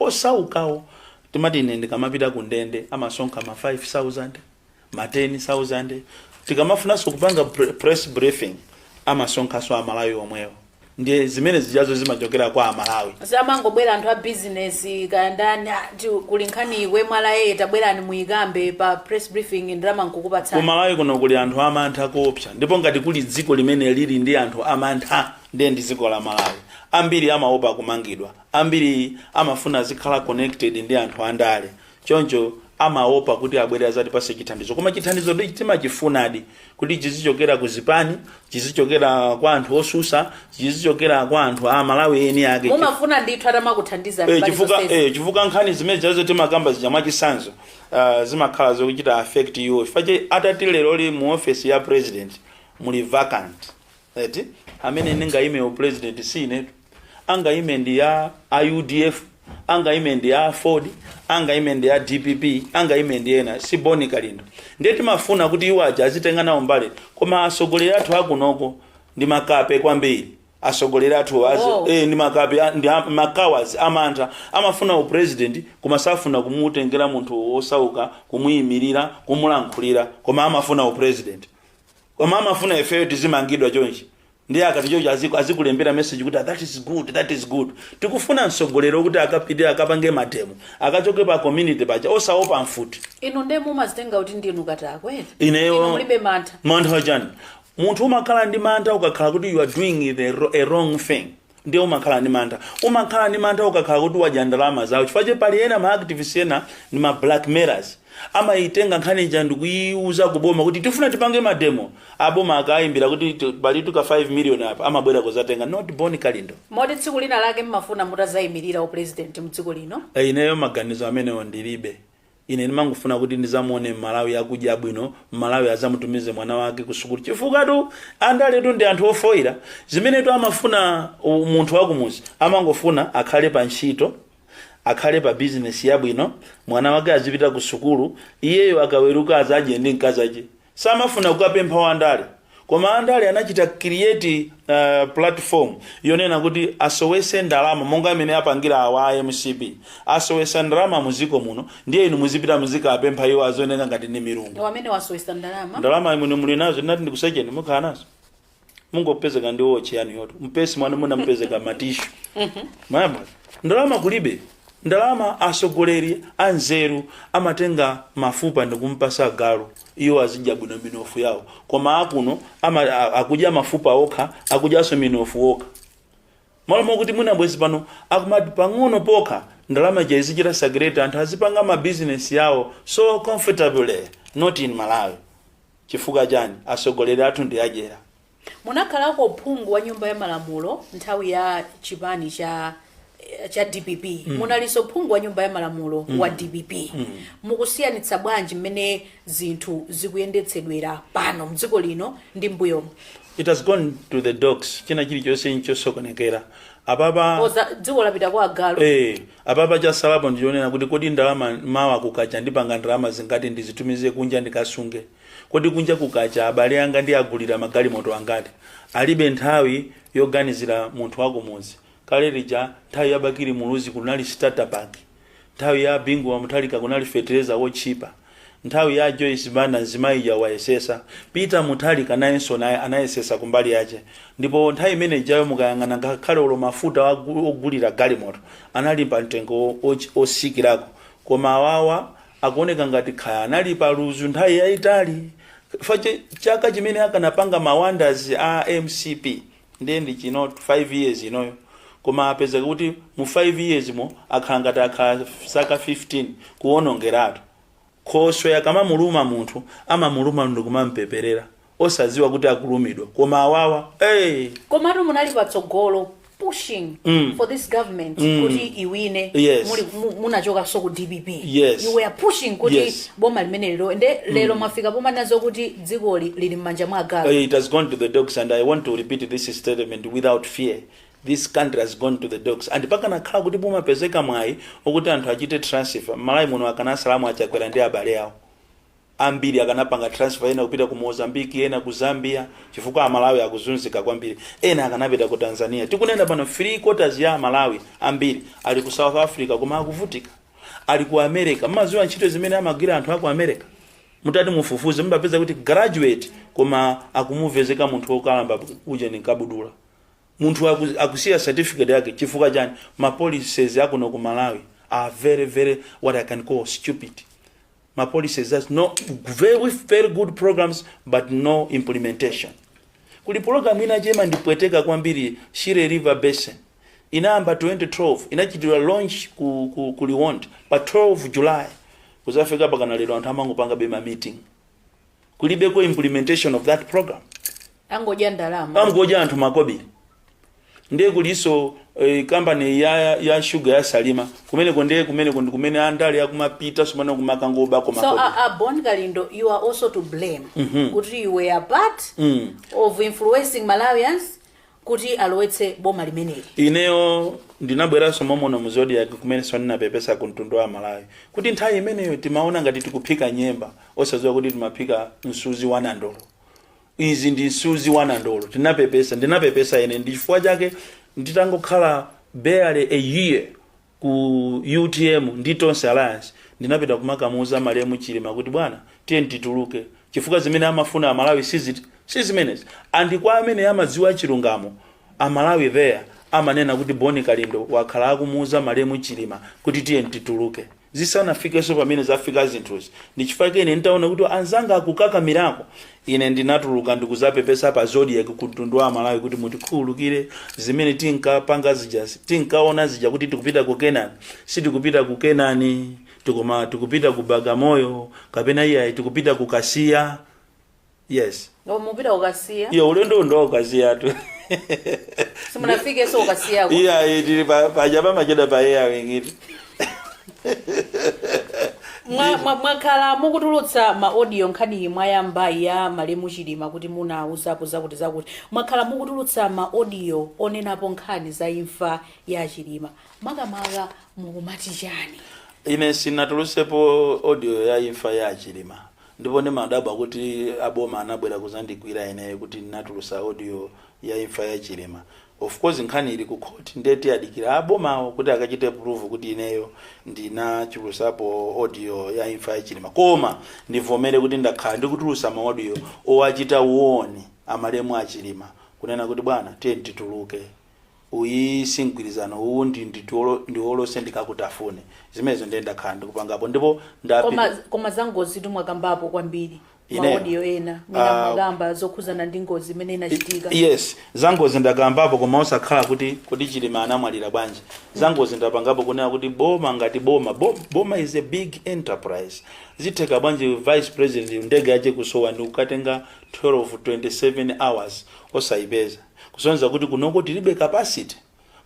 Osaukawo timati ine ndikamapita ku ndende amasonkha ma 5000, ma 10000, tikamafunanso kupanga press briefing amasonkhanso a Malawi omwewo ndiye zimene zijazo zimachokera kwa a Malawi. Samangobwera anthu a business kaya ndani ati kuli nkhani iku mwina tabwerani muyikambe pa press briefing ndalama n'kukupatsani. Ku Malawi kuno kuli anthu a mantha koopsa ndipo ngati kuli dziko limene lili ndi anthu a mantha ndiye ndi dziko la Malawi. Ambiri amaopa kumangidwa, Ambiri amafuna azikhala connected ndi anthu andale choncho amaopa kuti abwere azatipase chithandizo koma chithandizo timachifunadi kuti chizichokera ku zipani, chizichokera kwa anthu osusa, chizichokera kwa anthu a Malawi eni ake chif- mumafuna ndithu atamakuthandizani Eh, mbali chifukwa zonsezi. eh, chifukwa nkhani zimene zazo timakamba zija mwachisanzo uh, zimakhala zochita affect iwo chifukwa chake atati lero li mu office ya president muli vacant eti amene angayime upresident si inetu angayime ndi a udf angayime ndi a aford angayime ndi a dpp angayime ndi ena si bon kalindo ndiye timafuna kuti iwo aja azitenga nawo mbali koma atsogoleri athu akunoko ndi makape kwambiri atsogoleri athu azi- Wow. eh, ndi makape a- ndi a- makawadi amantha amafuna upresident koma safuna kumutengera munthu wosauka kumuyimirira kumulankhulira koma amafuna upresident koma amafuna ifeyo tizimangidwa chonchi ndiye akati chonchi aziku- azikulembera message kuti "Ah, that is good that is good tikufuna mtsogoleri kuti akapite akapange mademo akachoke pa community paja osaopa mfuti inu nde mumazitenga kuti ndinu katakwe Inu inuyo mulibe mantha mantha wachani munthu umakhala ndi mantha ukakhala kuti you are doing the, ro- a wrong thing ndiye umakhala ndi mantha umakhala ndi mantha ukakhala kuti wadya ndalama zawo chifukwa chake pali ena ma activists ena ndi ma blackmailers amayitenga nkhani ija ndikuyiuza kuboma kuti tifuna tipange mademo aboma akayimbira kuti ti- pali tika 5 million apa amabwera kuzatenga not bon kalindo moti tsiku lina lake mumafuna mutazayimirira upresident mdziko lino Eh, ineyo maganizo amenewo ndilibe Ine ndimangofuna kuti ndizamuone mmalawi akudya bwino mmalawi azamutumize mwana wake kusukulu chifukatu andaletu ndi anthu ofoira zimenetu amafuna u- munthu wakumuzi amangofuna akhale pa ntchito akhale pa bizinesi yabwino mwana wake azipita kusukulu iyeyo akaweruka azadye ndi mkazake samafuna kukapempha wandale koma andale anachita create uh, platform yonena kuti asowese ndalama monga mmene apangira awa a mcp asowesa ndalama muziko muno ndiye inu muzipita muzikapempha iwo azioneka ngati ndi milungu amene wasowesa ndalama ndalama imene muli nazo nditati ndikusecheni mukhala nazo mungopezeka ndi wochi yanu yoto mpesi mwanu mumapezeka matishu m'malo mwa ndalama kulibe ndalama asogoleri anzeru amatenga mafupa ndikumpasa galu iwo azidya bwino minofu yawo koma akuno ama, a- akudya mafupa okha akudyaso minofu okha malo mokuti mwina bwezi pano akumati pang'ono pokha ndalama ija izichita circulate anthu azipanga mabizinesi yawo so comfortably not in malawi Chifukwa chani? Atsogoleri athu ndi adyera. Munakhalako phungu wa nyumba ya malamulo nthawi ya chipani cha cha dpp munalinso phungu wa nyumba ya malamulo wa dpp mukusiyanitsa bwanji mmene zinthu zikuyendetsedwera pano mdziko lino ndi mbuyomu It has gone to the dogs. China chilichonse nchosokonekera. Apapa Oza- dzikoli lapita kwa agalu eh Apapa chasalapo ndichonena kuti kodi ndalama mawa kukacha ndipanga ndalama zingati ndizitumize kunja ndikasunge? Kodi kunja kukacha abale anga ndiagulira magalimoto angati? Alibe nthawi yoganizira munthu wakumudzi. Kale lija nthawi ya Bakili Muluzi kunali Starter Pack. Nthawi ya Bingu Wa Mutharika kunali fetereza wotchipa. Nthawi ya Joyce Banda mzimayi uja anayesesa, Peter Muthalika nayenso naye anayesesa kumbali yache ndipo nthawi imene ijayo mukayang'ana ngakhale olo mafuta ogulira galimoto anali pa mtengo osikirako koma awawa akuoneka ngati kaya anali pa luzu nthawi yaitali chifukwa chaka chimene akanapanga ma wonders a mcp ndiye ndi chino 5 years inoyo koma apezeka kuti mu 5 years mo akhala ngati akhala zaka 15 kuwonongeratu khoswe akamamuluma munthu amamuluma ndikumampeperera osadziwa kuti akulumidwa koma awawa hey! komatu munali patsogolo pushing Mm. for this government Mm. kuti iwine Yes. Muli- mu- munachokanso ku dpp Yes. you were pushing kuti Yes. boma limenelero nde lero mwafika pomanena kuti dzikoli lili mmanja mwa agalu. It has gone to the dogs and I want to repeat this statement without fear, this country has gone to the dogs and pakanakhala kuti pumapezeka mwayi okuti anthu achite transfer mmalawi muno akanasalamu achakwera ndi abale awo ambiri akanapanga transfer ena kupita ku mozambique ena ku zambia chifukwa amalawi akuzunzika kwambiri ena akanapita ku tanzania tikunena pano three quarters ya amalawi ambiri ali ku south africa koma akuvutika ali ku america mumaziwa ntchito zimene amagwira anthu aku america mutati mufufuze mukapeza kuti graduate koma akumuvezeka munthu wokalamba uja ndi kabudula munthu aku, akusiya certificate yake chifukwa chani ma policies akuno ku malawi are very very what i can call stupid ma policies that's no very very good programs but no implementation kuli program inayake imandipweteka kwambiri shire river basin inayamba 2012 inachitidwa launch ku, ku, ku Liwonde pa 12 July kuzafika mpakana lero anthu amangopangabe ma meeting kulibeko implementation of that program angodya ndalama amgoja anthu makobiri ndiye kulinso eh, kampani ya, ya shuga ya salima kumeneko ndiye kumeneko ndi kumene andale akumapita sumana kumakangobakonso makobiri uh, uh, bon kalindo you are also to blame kuti you were a part of influencing malawians kuti alowetse boma limeneli ineyo ndinabweranso momuno mu zodiak kumenenso ndinapepesa ku mtundu wa amalawi kuti nthawi imeneyo timaona ngati tikuphika nyemba osadziwa kuti timaphika msuzi wa nandolo izi ndi msuzi wa nandolo tinapepesa ndinapepesa ine ndi chifukwa chake nditangokhala barely a year ku utm ndi tonse alliance ndinapita kumakamuuza malemu chilima kuti bwana tiyeni tituluke chifukwa zimene amafuna amalawi sizit si zimenezi and kwa amene amadziwa chilungamo amalawi eya amanena kuti bon kalindo wakhala akumuuza malemu chilima kuti tiyeni tituluke zisanafikenso pamene zafika zinthuzi ndi chifukwa chake ine nditaona kuti anzanga akukakamirako Ine ndinatuluka ndikuzapepesa pa zodiak ku mtundu wa amalawi kuti mutikhululukire zimene tinkapanga zijazi tinkaona zija kuti tikupita ku kenani sitikupita ku kenani koma tikupita ku bagamoyo kapena iyayi tikupita ku kasiya yes Ndipo mupita kukasiya iyo ulendo ndi wa kukasiyatu simunafikenso kukasiyako iyayi tili pa- paja pamachedwa pa air wingiti Mwa- mwa- mwakhala mukutulutsa ma audio nkhaniyi mwayambayi ya malemu chilima kuti munauzapo zakuti zakuti mwakhala mukutulutsa ma audio onenapo nkhani za imfa ya chilima makamaka mukumati chani ine sinatulusepo audio ya imfa ya chilima ndipo ndimadabwa kuti aboma anabwera kuzandigwira ine kuti ndinatulusa audio ya imfa ya chilima Of course nkhani ili ku court nde tiwadikila a bomawo kuti akachite prove kuti ineyo ndinatulusapo audio ya imfa ya chilima koma ndivomere kuti ndakhala ndikutulusa ma audio owachita warn a malemu a chilima kunena kuti bwana tiyeni tituluke uwu si mgwirizano uwu ndi nditiolo ndiolose ndikakutafune zimenezo ndiye ndakhala ndikupangapo ndipo koma ndapita koma zangozitu mwakambapo kwambiri Ine- maaudio ena Ah. mwina mwakamba zokhuzana ndi ngozi imene inachitika I- yes zangozi ndakambapo koma osakhala kuti kuti chilima anamwalira bwanji zangozi ndapangapo kunena kuti boma ngati boma bo- boma is a big enterprise zitheka bwanji vice president ndege yache kusowa ndi kukatenga 12 27 hours osayipeza kusonyeza kuti kunoko tilibe capacity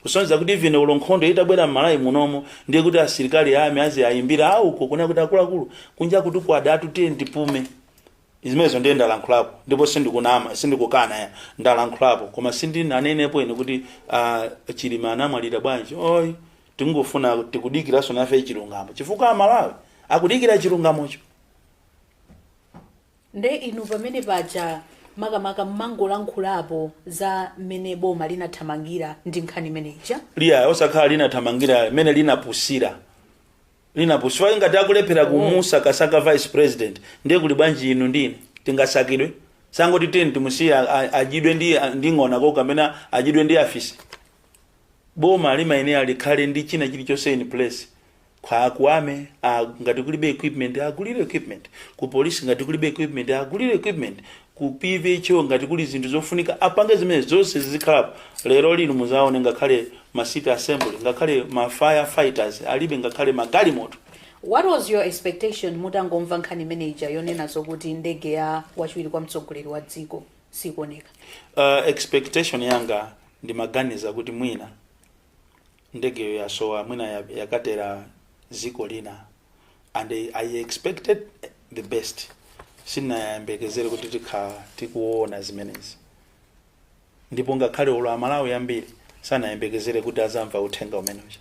kusonyeza kuti even olo nkhondo itabwera m'malawi munomo ndiye kuti asilikali a army aziwayimbira auko kunena kuti akuluakulu kunja kuno kwadatu tiye tipume zimenezo ndiye ndalankhulapo ndipo sindikunama sindikukana ya ndalankhulapo koma sindinanenepo ine kuti uh, chilima anamwalira bwanji oyi tingofuna tikudikiranso nafe chilungamo chifukwa Amalawi akudikira chilungamocho Nde inu pamene paja makamaka munangolankhulapo za mmene boma linathamangira ndi nkhani imene ija. lya osakhala linathamangira mmene linapusira linapu chifukwa ngati akulephera kumusakasaka vice president ndiye kuli bwanji inu ndi ine tingasakidwe sangoti tiyeni timusiye a- a- adyidwe ndi ndi ng'ona uko kapena adyidwe ndi afisi boma limayenera likhale ndi china chilichonse in place Kwa a ku army, ngati kulibe equipment agulire equipment. Ku police ngati kulibe equipment agulire equipment. Ku PVHO ngati kuli zinthu zofunika apange zimene zonse zikhalepo. Lero lino muzaone ngakhale ma city assembly, ngakhale ma fire fighters alibe ngakhale magalimoto. What was your expectation mutangomva nkhani imene ija yonena zokuti ndege ya wachiwiri kwa mtsogoleri wa dziko sikuoneka? Uh, expectation yanga ndimaganiza kuti mwina Ndegeyo yasowa mwina yakatera ziko lina and i expected the best sindinayembekezere kuti tikhala tikuona zimenezi ndipo ngakhale olo amalawi ambiri sanayembekezere kuti azamva uthenga umene uja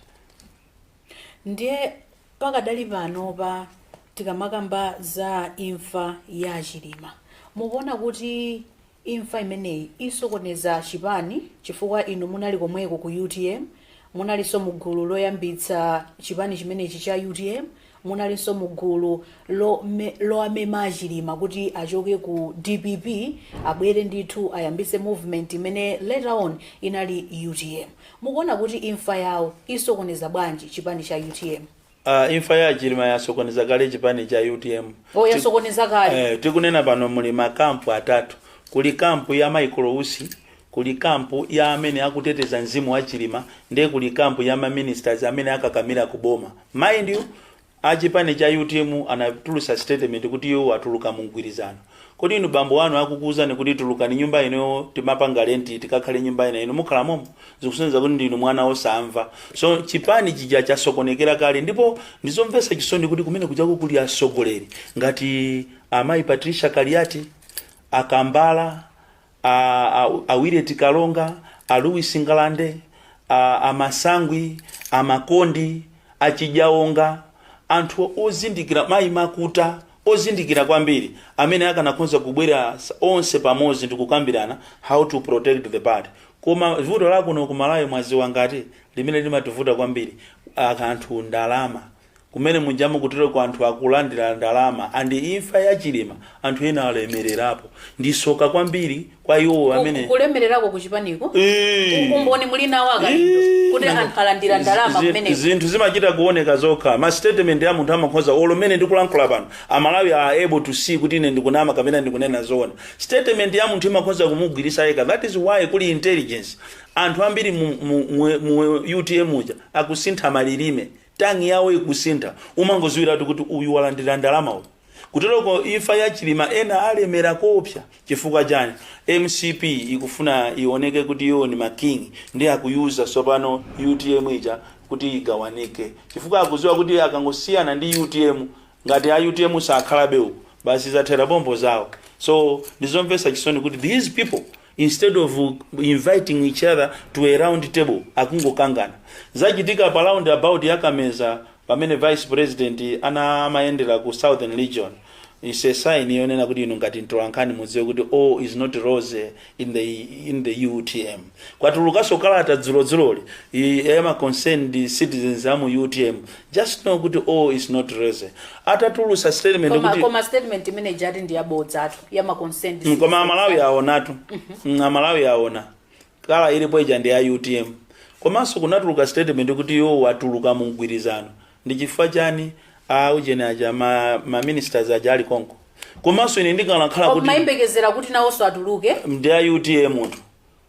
ndiye pakadali panopa tikamakamba za imfa ya chilima mukuona kuti Imfa imeneyi isokoneza chipani chifukwa inu munali komweko ku utm, munalinso mu gulu loyambitsa chipani chimenechi cha utm, munalinso mu gulu lowamema a Chilima kuti achoke ku dpp abwere ndithu ayambitse movement imene later on inali utm. Mukuona kuti imfa yawo isokoneza bwanji chipani cha utm? Uh, imfa ya a chilima yasokoneza kale chipani cha utm oh, yasokoneza kale eh, tikunena pano muli makampu atatu kuli kampu ya michael usi kuli kampu ya amene akuteteza mzimu wa a chilima ndiye kuli kampu ya maministers amene akakamira ku boma mind you achipani cha utm anatulusa statement kuti iwo atuluka mu mgwirizano Kodi inu bambo anu akukuuzani kuti tulukani nyumba ino timapanga lenti tikakhale nyumba ina inu mukhala momo? Zikusonyeza kuti ndinu mwana osamva. So chipani chija chasokonekera kale ndipo ndizomvetsa chisoni kuti kumene kujako kuli atsogoleri ngati amayi Patricia Kaliati, a Kambala, a, a, a Willet Kalonga, a Louis Ngalande, a, a Masangwi, a Makondi, a Chijaonga, anthu ozindikira mayi makuta ozindikira kwambiri amene akanakhoza kubwera s- onse pamodzi ndi kukambirana how to protect the party koma vuto lakuno ku malawi mwaziwa nkhani limene limativuta kwambiri a- anthu ndalama Kumene mujama kutereko anthu akulandira ndalama and imfa ya chilima anthu ena alemererapo ndisoka kwambiri kwa iwo Ku- amene kulemererako ku chipaniko Eee. umboni muli nawo akalindo Eee. kuti Nanga- anthu alandira ndalama Zi- kumeneko zinthu zimachita kuoneka zokha ma statement ya munthu amakhoza olo mene ndikulankhula pano amalawi are able to see kuti ine ndikunama kapena ndikunena zoona statement ya munthu imakhoza kumugwiritsa yekha that is why kuli intelligence anthu ambiri mu, mu, mu, mu utm uja akusintha malilime Tongue yawo ikusintha umangoziwilatu kuti uyu walandila ndalama uyu. Kuteloko imfa ya chilima ena alemela koopsa chifukwa chani? Mcp ikufuna ioneke kuti iwo ndi ma king ndiye akuyuza tsopano utm ija kuti igawanike chifukwa akuziwa kuti akangosiyana ndi utm ngati a utm sakhalabe uku basi zathela pompo zawo so ndizomvesa chisoni kuti these people instead of inviting each other to a round table akungokangana zachitika pa roundabout ya kameza pamene vice president ana amayendera ku southern region is a sign yonena kuti inu ngati mtolankhani mudziwe kuti all is not rose in the, in the utm kwatulukanso kalata dzulodzuloli ya ma concerned citizens a mu utm just know kuti all is not rosy atatulusa statement koma, kuti koma statement imene ija ati ndi yabodzatu ya ma concerned Mm, koma amalawi aonatu Mm, amalawi aona kala ilipo ija ndi a utm komanso kunatuluka statement kuti iwo atuluka mu mgwirizano ndi chifukwa chani a ujeni aja ma, ma ministers aja ali konko komanso ine ndikanakhala kuti ndimayembekezera kuti nawonso atuluke ndi a utm munthu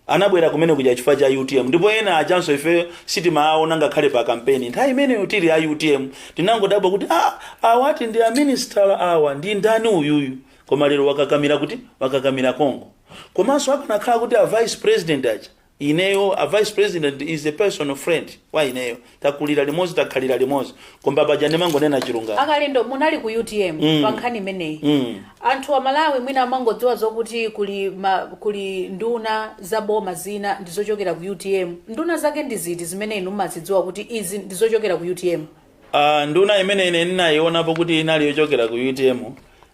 Anabwera kumene kuja chifukwa cha utm ndipo ena ajanso ifeyo sitimaaona ngakhale pa kampeni nthawi imeneyo tili a utm tinangodabwa kuti ah awa ati ndi a minista awa ndi ndani uyuyu koma lero wakakamira kuti wakakamira konko komanso akanakhala kuti a vice president aja ineyo a vice president is a personal friend kwa ineyo takulira limodzi takhalira limodzi koma paja ndimangonena chilungamo akalindo munali ku utm Mm. pa nkhani imeneyi Mm. anthu a malawi mwina amangodziwa zokuti kuli ma, kuli nduna za boma zina ndi zochokera ku utm nduna zake ndi ziti zimene inu mumazidziwa kuti izi ndi zochokera ku utm Ah, nduna imene ine ndinayionapo kuti inali yochokera ku utm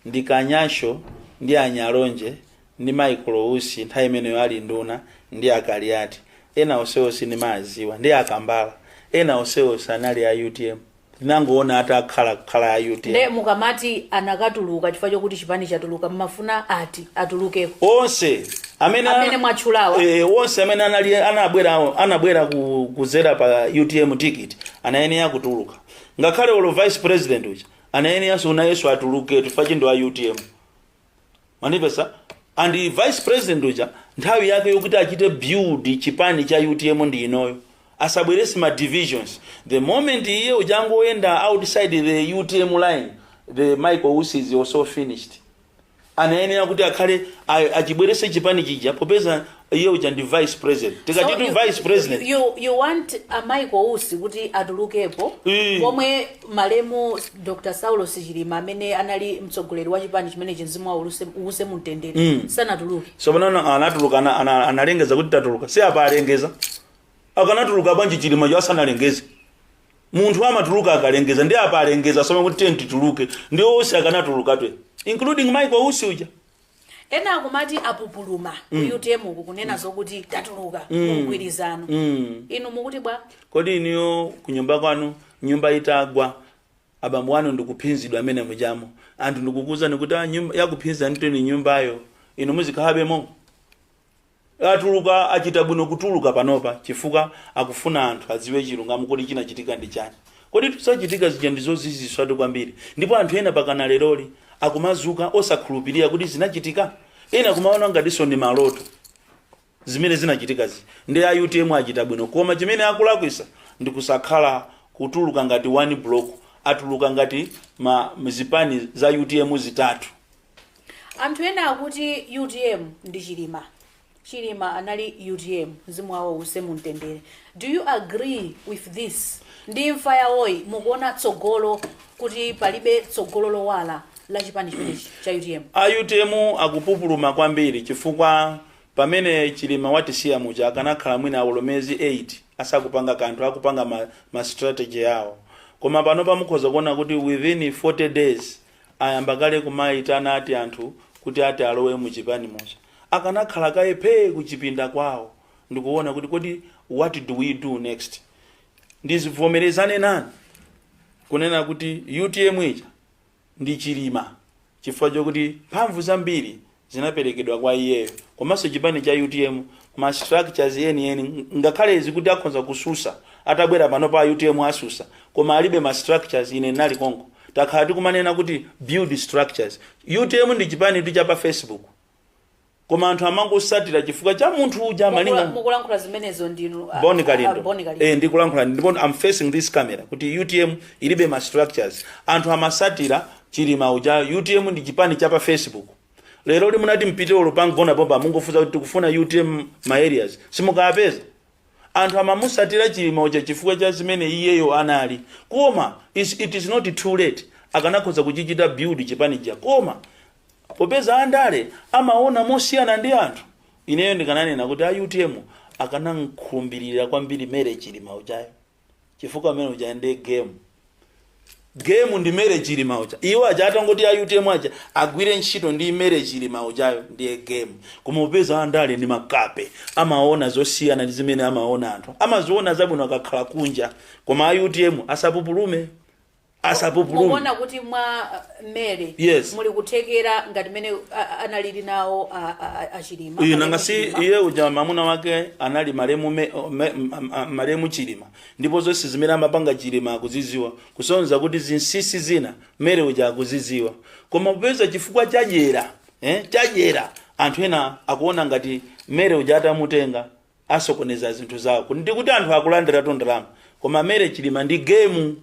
ndi kanyasho ndi a nyalonje ndi Michael Usi nthawi imeneyo ali nduna ndi a Kaliati ena onsewo sindimadziwa ndi a Kambala ena onsewo sanali a utm ndinangoona atakhala kukhala a utm nde mukamati anatuluka chifukwa chokuti chipani chatuluka mumafuna ati atulukeko onse amene Amene mwatchulawa. eh, onse amene anali anabwera anabwera ku- kudzera pa utm ticket anayenera kutuluka ngakhale olo vice president uja anayeneranso nayenso atuluke chifukwa ndi wa utm man pesa and vice president uja nthawi yake yokuti achite build chipani cha utm ndi inoyo asabwerese ma divisions the moment iye uja angoyenda outside the utm line the michael usi is also finished anayenera kuti akhale achibwerese chipani chija popeza iye uja ndi vice president tikatitu you- vice president you, you want a Michael Usi kuti atulukepo Eh. pomwe malemu dr Saulos Chilima amene anali mtsogoleri wa chipani chimenechi mzimu wawo uluse- uuse mumtendere sanatuluke sopanano anatuluka ana- ana- analengeza kuti tatuluka si apa alengeza akanatuluka bwanji chilimayo asanalengeze munthu amatuluka akalengeza ndi apa alengeza sono kuti tiye tituluke ndi onse akanatulukatwe including michael usi uja ena akumati apupuluma ku mm. utm uku kunena mm. zokuti tatuluka mm. mgwirizano mm. inu mukuti bwa kodi inuyo kunyumba kwanu nyumba itagwa abambo wanu ndikuphinzidwa mmene mujamo anthu ndikukuuzani kuti ah, yakuphinzanitu nyumbayo inu muzikhalabemo Atuluka achita bwino kutuluka panopa chifukwa akufuna anthu adziwe chilungamo kodi chinachitika ndi chani koditu zachitika zija ndi zoziziritsatu kwambiri ndipo anthu ena pakana leroli akumazuka osakhulupilira kuti zinachitika ena kumaona ngatiso ndi maloto zimene zinachitika zija ndi a utm achita bwino koma chimene akulakwisa ndi kusakhala kutuluka ngati one block atuluka ngati zipani za utm zitatu anthu ena akuti utm ndi chilima chilima anali utm mzimu wawo uuse mumtendere do you agree with this ndi imfa yawoyi mukuona tsogolo kuti palibe tsogolo lowala la chipani chimenechi cha utm a utm akupupuluma kwambiri chifukwa pamene chilima watisiya muja akanakhala mwina olo miyezi 8 asakupanga kanthu akupanga ma, ma strategy yawo koma pano mukhoza kuona kuti within 40 days Ayamba kale kumaitana ati anthu kuti ati alowe mu chipani muja. Akanakhala kaye phee ku chipinda kwawo ndikuona kuti kodi what do we do next. Ndizibvomerezane nanu kunena kuti utm ija ndi Chilima chifukwa chakuti mphamvu zambiri zinaperekedwa kwa iyeyo komanso chipani cha utm ma structures yeniyeni ngakhale kuti akhonza kususa atabwera pano pa utm asusa koma alibe ma structures ine ndinali konko takhala tikumanena kuti build structures utm ndi chipani tu cha pa facebook koma anthu amangosatira chifukwa cha munthu uja Mukula- malinga mukulankhula zimenezo ndinu a- boni a- kalindo Boni Kalindo. eh ndikulankhula ndipo i'm facing this camera kuti utm ilibe ma structures anthu amasatira Chilima uja utm ndi chipani cha pa Facebook leroli mutati mupite olo pa Mgona pompa mungofunsa kuti tikufuna utm ma areas simukapeza anthu amamusatira Chilima uja chifukwa cha zimene iyeyo anali koma is, it is not too late akanakhoza kuchichita build chipani chija koma popeza andale amaona mosiyana ndi anthu ineyo ndikananena kuti a utm akanamkhumbirira kwambiri Mary Chilima ujayo chifukwa amene uja ndi game game ndi Mary chilima uja iwo aja atangoti a utm aja agwire ntchito ndi Mary chilima ujayo ndiye game koma popeza andale ndi makape amaona zosiyana ndi zimene amaona anthu amaziona zabwino akakhala kunja koma a utm asapupulume asapupulume mukuona kuti mwa uh, Mary Yes. muli kuthekera ngati mmene uh, analili nawo uh, uh, achilima uyu nanga si Achilima. iye uja mamuna wake anali malemu me- o- me- m- m- malemu chilima ndipo zonse zimene amapanga chilima akuziziwa kusonyeza kuti zinsisi zina Mary uja akuziziwa koma popeza chifukwa cha jela eh, cha jela anthu ena akuona ngati Mary uja atamutenga asokoneza zinthu zawo Ku- ndikuti anthu akulandiratu ndalama koma Mary chilima ndi gemu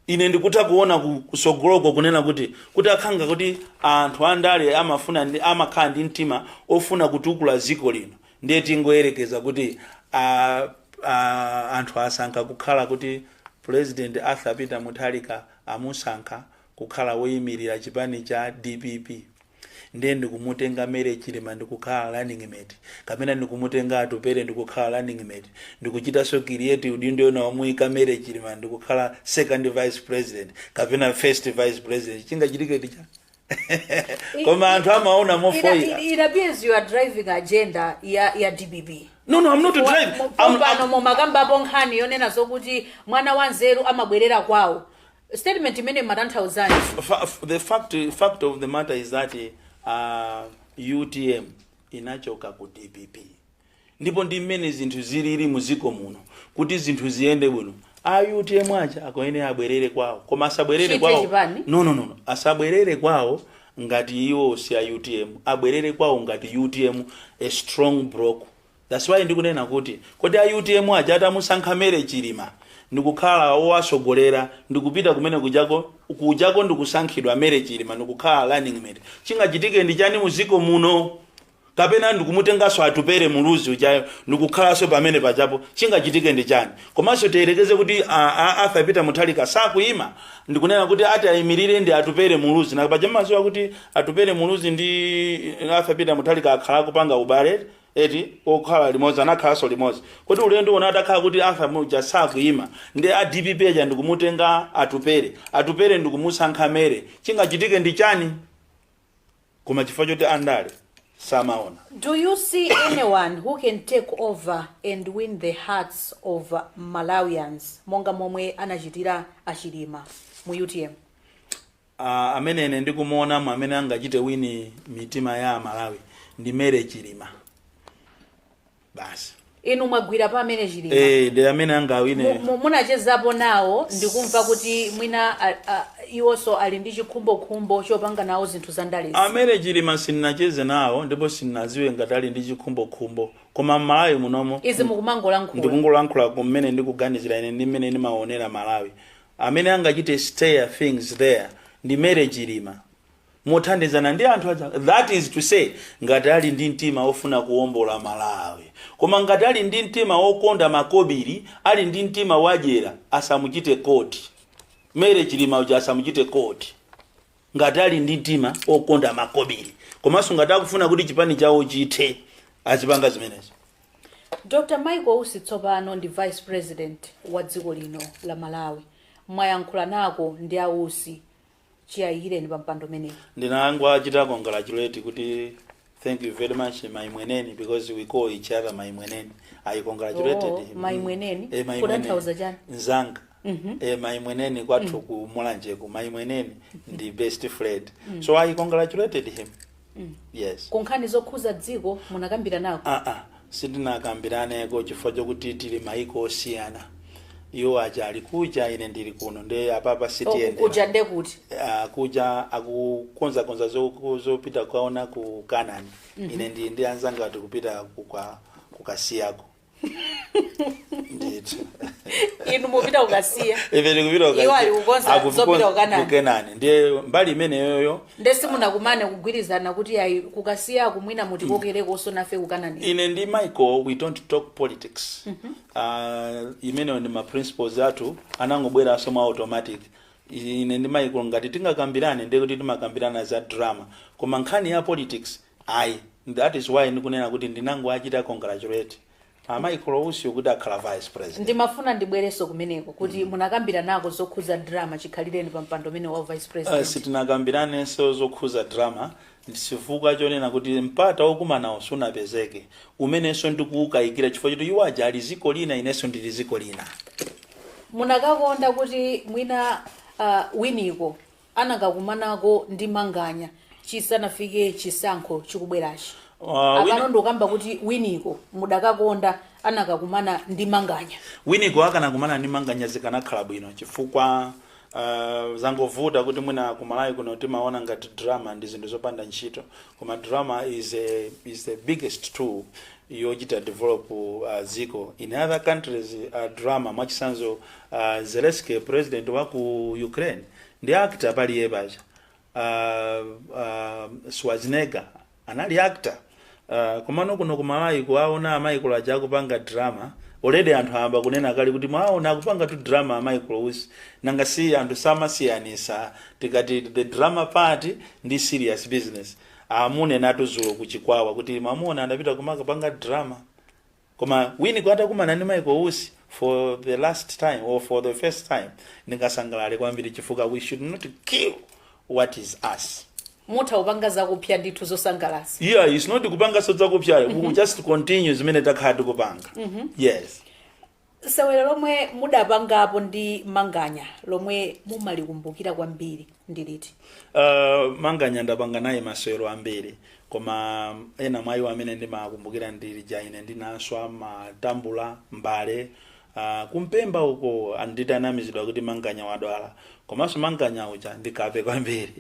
ine ndikutha kuona ku- kusogoloko kunena kuti kutakhala kuti anthu andale amafuna ndi amakhala ndi mtima ofuna kutukula dziko lino ndiye tingoyerekeza kuti a, a, anthu asankha kukhala kuti president arthur peter mutharika amusankha kukhala woyimirira chipani cha dpp Ndiye ndikumutenga Mary Chilima ndikukhala running mate, kapena ndikumutenga Atupele ndikukhala running mate, ndikuchitanso create udindo wina womuyika Mary Chilima ndikukhala second vice president kapena first vice president, chingachitike ndi chani? Koma anthu amaona It, mofoyira. it, it appears you are driving agenda ya, ya dpp No, no, I'm not driving. I'm, I'm, pano mumakambapo nkhani yonena zokuti mwana wa nzeru amabwerera kwawo statement imene imatanthauzanji Fa- f- the fact fact of the matter is that uh, utm inachoka ku dpp ndipo ndi mmene zinthu zilili mu dziko muno kuti zinthu ziyende bwino a utm aja akuyenera abwerere kwawo koma asabwerere Chithe kwawo chipani? no no no no. asabwerere kwawo ngati iwo si a utm abwerere kwawo ngati utm a strong block That's why ndikunena kuti kodi a UTM aja atamusankha Mary Chilima ndikukhala owatsogolera ndikupita kumene kujako kujako ndikusankhidwa Mary Chilima ndikukhala running mate chingachitike ndi chani mdziko muno kapena ndikumutenganso Atupele Muluzi ujayo ndikukhalanso pamene pajapo chingachitike ndi chani komanso tiyerekeze kuti a- a- Arthur Peter Mutharika sakuyima ndikunena kuti ati ayimirire ndi Atupele Muluzi nanga paja mmadziwa kuti Atupele Muluzi ndi Arthur Peter Mutharika akhala akupanga ubale eti okhala limodzi anakhalanso limodzi kodi ulendo uno atakhala kuti Arthur uja sakuima ndi a DPP aja ndikumutenga Atupele Atupele ndikumusankha Mary chingachitike ndi chani koma chifukwa choti andale samaona Do you see anyone who can take over and win the hearts of Malawians monga momwe anachitira a Chilima mu UTM? A, amene ine ndikumuonamo amene angachite win mitima ya aMalawi ndi Mary Chilima basi inu mwagwira pa a Mary Chilima e, ndi amene angawine Mu- mu- munachezapo nawo ndikumva kuti mwina a- a- iwonso ali ndi chikhumbokhumbo chopanga nawo zinthu za ndalezi a Mary Chilima sinnacheze nawo ndipo sinnadziwe ngati ali ndi chikhumbokhumbo koma mMalawi munomo izi mukumangolankhula ndikungolankhula kumene ndikuganizira ine ndi mmene ndimaonera Malawi Amene angachite steer things there ndi Mary Chilima mothandizana ndi anthu aja that is to say ngati ali ndi mtima ofuna kuombola Malawi. Koma ngati ali ndi mtima okonda makobili, ali ndi mtima wadyera asamuchite court Mary Chilima uja asamuchite court ngati ali ndi mtima okonda makobili komanso ngati akufuna kuti chipani chawo chithe azipanga zimenezo. Dr Michael Usi tsopano ndi vice president wa dziko lino la Malawi. Mwayankhulanako ndi a Usi chiyayikireni pa mpando umenewu? Ndinangowachita congratulate kuti thank you very much mayimwene because we call each other mayimwene. I congratulated him. Oh, mayimwene? Eh, mayimwene. Kutanthauza chani? Nzanga. Eh, mayimwene kwathu ku Mulanje ku mayimwene ndi best friend. So I congratulated him. yes ku nkhani zokhudza dziko munakambiranako aa sitinakambiraneko chifukwa chokuti tili maiko osiyana iwo aja ali kuja ine ndili kuno nde apapa si ili kuja nde kuti Ah, kuja akukonzakonza zoku- zopita kwawo ku Kenani ine ndili ndi anzanga tikupita kukwa- ku Kasiyako ndithu inu mupita ku Kasiya ife tikupita uka- Iwo ali kukonza akukukonza- zopita ku Kenani. ku Kenani ndiye mbali imeneyoyo nde simunakumane kugwirizana kuti ayi ku Kasiyako mwina mutikokerekonso nafe ku Kenani ine ndi Michael we don't talk politics uh, imeneyo ndi ma principles athu anangobweranso mwa automatic ine ndi Michael ngati tingakambirane ndiye kuti timakambirana za drama koma nkhani ya politics Ayi and that is why ndikunena kuti ndinangowachita congratulate a Michael Usi kuti akhala vice president. ndimafuna ndibwerenso kumeneko kuti munakambiranako zokhudza drama chikhalireni pa mpando umenewu wa vice Uh, president sitinakambiranenso zokhuza drama chifukwa chonena kuti mpata wokumanawo sunapezeke umenenso ndikuwukayikira chifukwa choti iwo aja ali ziko lina inenso ndili ziko lina munakakonda kuti mwina uh, winiko anakakumanako ndi manganya chisanafike chisankho chikubwerachi Uh, wina- apano ndikukamba kuti winiko mudakakonda anakakumana ndi manganya winiko akanakumana ndi manganya zikanakhala bwino chifukwa uh, zangovuta kuti mwina ku Malawi kuno timaona ngati drama ndi zinthu zopanda ntchito koma drama is, a, is the biggest tool yochita develop uh, dziko in other countries uh, drama mwachitsanzo uh, Zelensky president wa ku Ukraine ndi actor pali iye paja uh, uh, Schwarzenegger anali actor uh, komano kuno ku Malawi kuwaona a Michael aja akupanga drama already anthu ayamba kunena kale kuti mwaona akupanga tu drama a Michael Usi nanga si anthu samasiyanitsa tikati the drama part ndi serious business amunenatu dzulo ku Chikwawa kuti mamuna anapita kumakapanga drama Koma Winiko atakumana ndi Michael Usi for the last time or for the first time ndingasangalale kwambiri chifukwa we should not kill what is us. mutha kupanga zakupsa ndithu zosangalatsa Yeah, it's not kupanganso zakupsayo. We will just continue zimene takhala tikupanga. Yes. Sewero lomwe mudapangapo ndi Manganya lomwe mumalikumbukira kwambiri ndi liti? Uh, manganya ndapanga naye masewero ambiri koma ena mwa iwo amene ndimakumbukira ndi lija ine ndinaswa matambula mbale uh, ku Mpemba uko anditanamizidwa kuti manganya wadwala komanso manganya uja ndikape kwambiri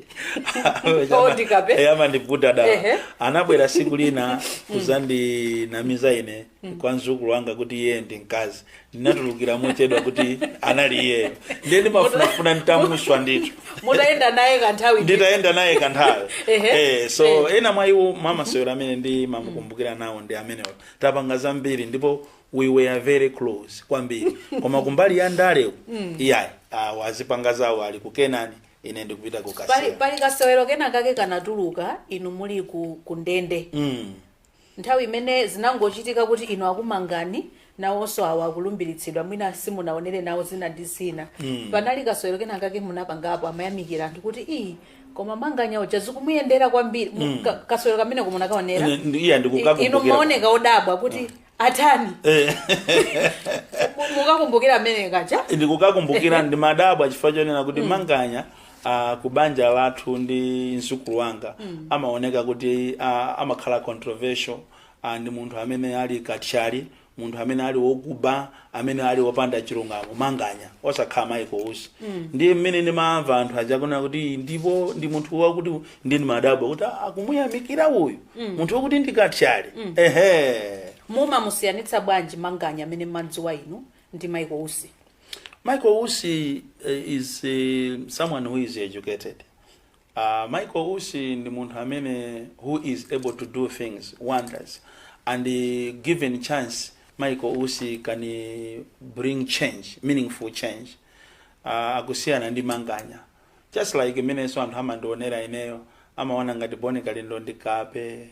Oh, ndikape? Eh, amandiputa dala Ehe. anabwera siku lina kuzandinamiza ine kwa mzukulu wanga kuti iye ndi mkazi ndinatulukira mochedwa kuti anali iyeyo ndiye ndimafunafuna nditamuswa ndithu mutayenda naye kanthawi ndithu. nditayenda naye kanthawi Ehe. eh, so ena mwa iwo mwa masewero amene ndimamukumbukira nawo ndi amenewo tapanga zambiri ndipo we were very close kwambiri koma kumbali ya ndale uku, iyayi awo azipanga zawo ali ku UTM ine ndikupita ku pali, kasewero pali kasewero kena kake kanatuluka inu muli ku, ku ndende Mm. nthawi imene zinangochitika kuti inu akumangani nawonso awo akulumbiritsidwa mwina simunaonere nawo zina ndi zina panali kasewero kena kake munapangapo amayamikira anthu kuti iyi koma manganya uja zikumuyendera kwambiri Mu- ka- kasewero kameneko munakaonera Ine- ndi- iya I- inu ndikukakumbukira mumaoneka odabwa kuti atani Eh, Mu- mukakumbukira mmene kaja ndikukakumbukira ndimadabwa chifukwa chonena kuti manganya ah, ku banja lathu ndi mzukulu wanga amaoneka kuti ah, amakhala controversial ah, ndi munthu amene ali kathyali munthu amene ali wokuba amene ali opanda chilungamo manganya osakhala michael usi ndiye mmene ndimamva anthu aja akunena kuti ndipo ndi munthu wakuti ndi ndimadabwa kuti "Ah, akumuyamikira uyu munthu wakuti ndi kathyali ehe mumamusiyanitsa bwanji manganya amene mmadziwa inu ndi michael usi michael usi eh, is eh, someone who is educated A Michael Usi ndi munthu amene who is able to do things wonders and given chance Michael Usi can bring change meaningful change uh, akusiyana ndi manganya just like mmenenso anthu amandionera ineyo amaona ngati Boni Kalindo ndi kape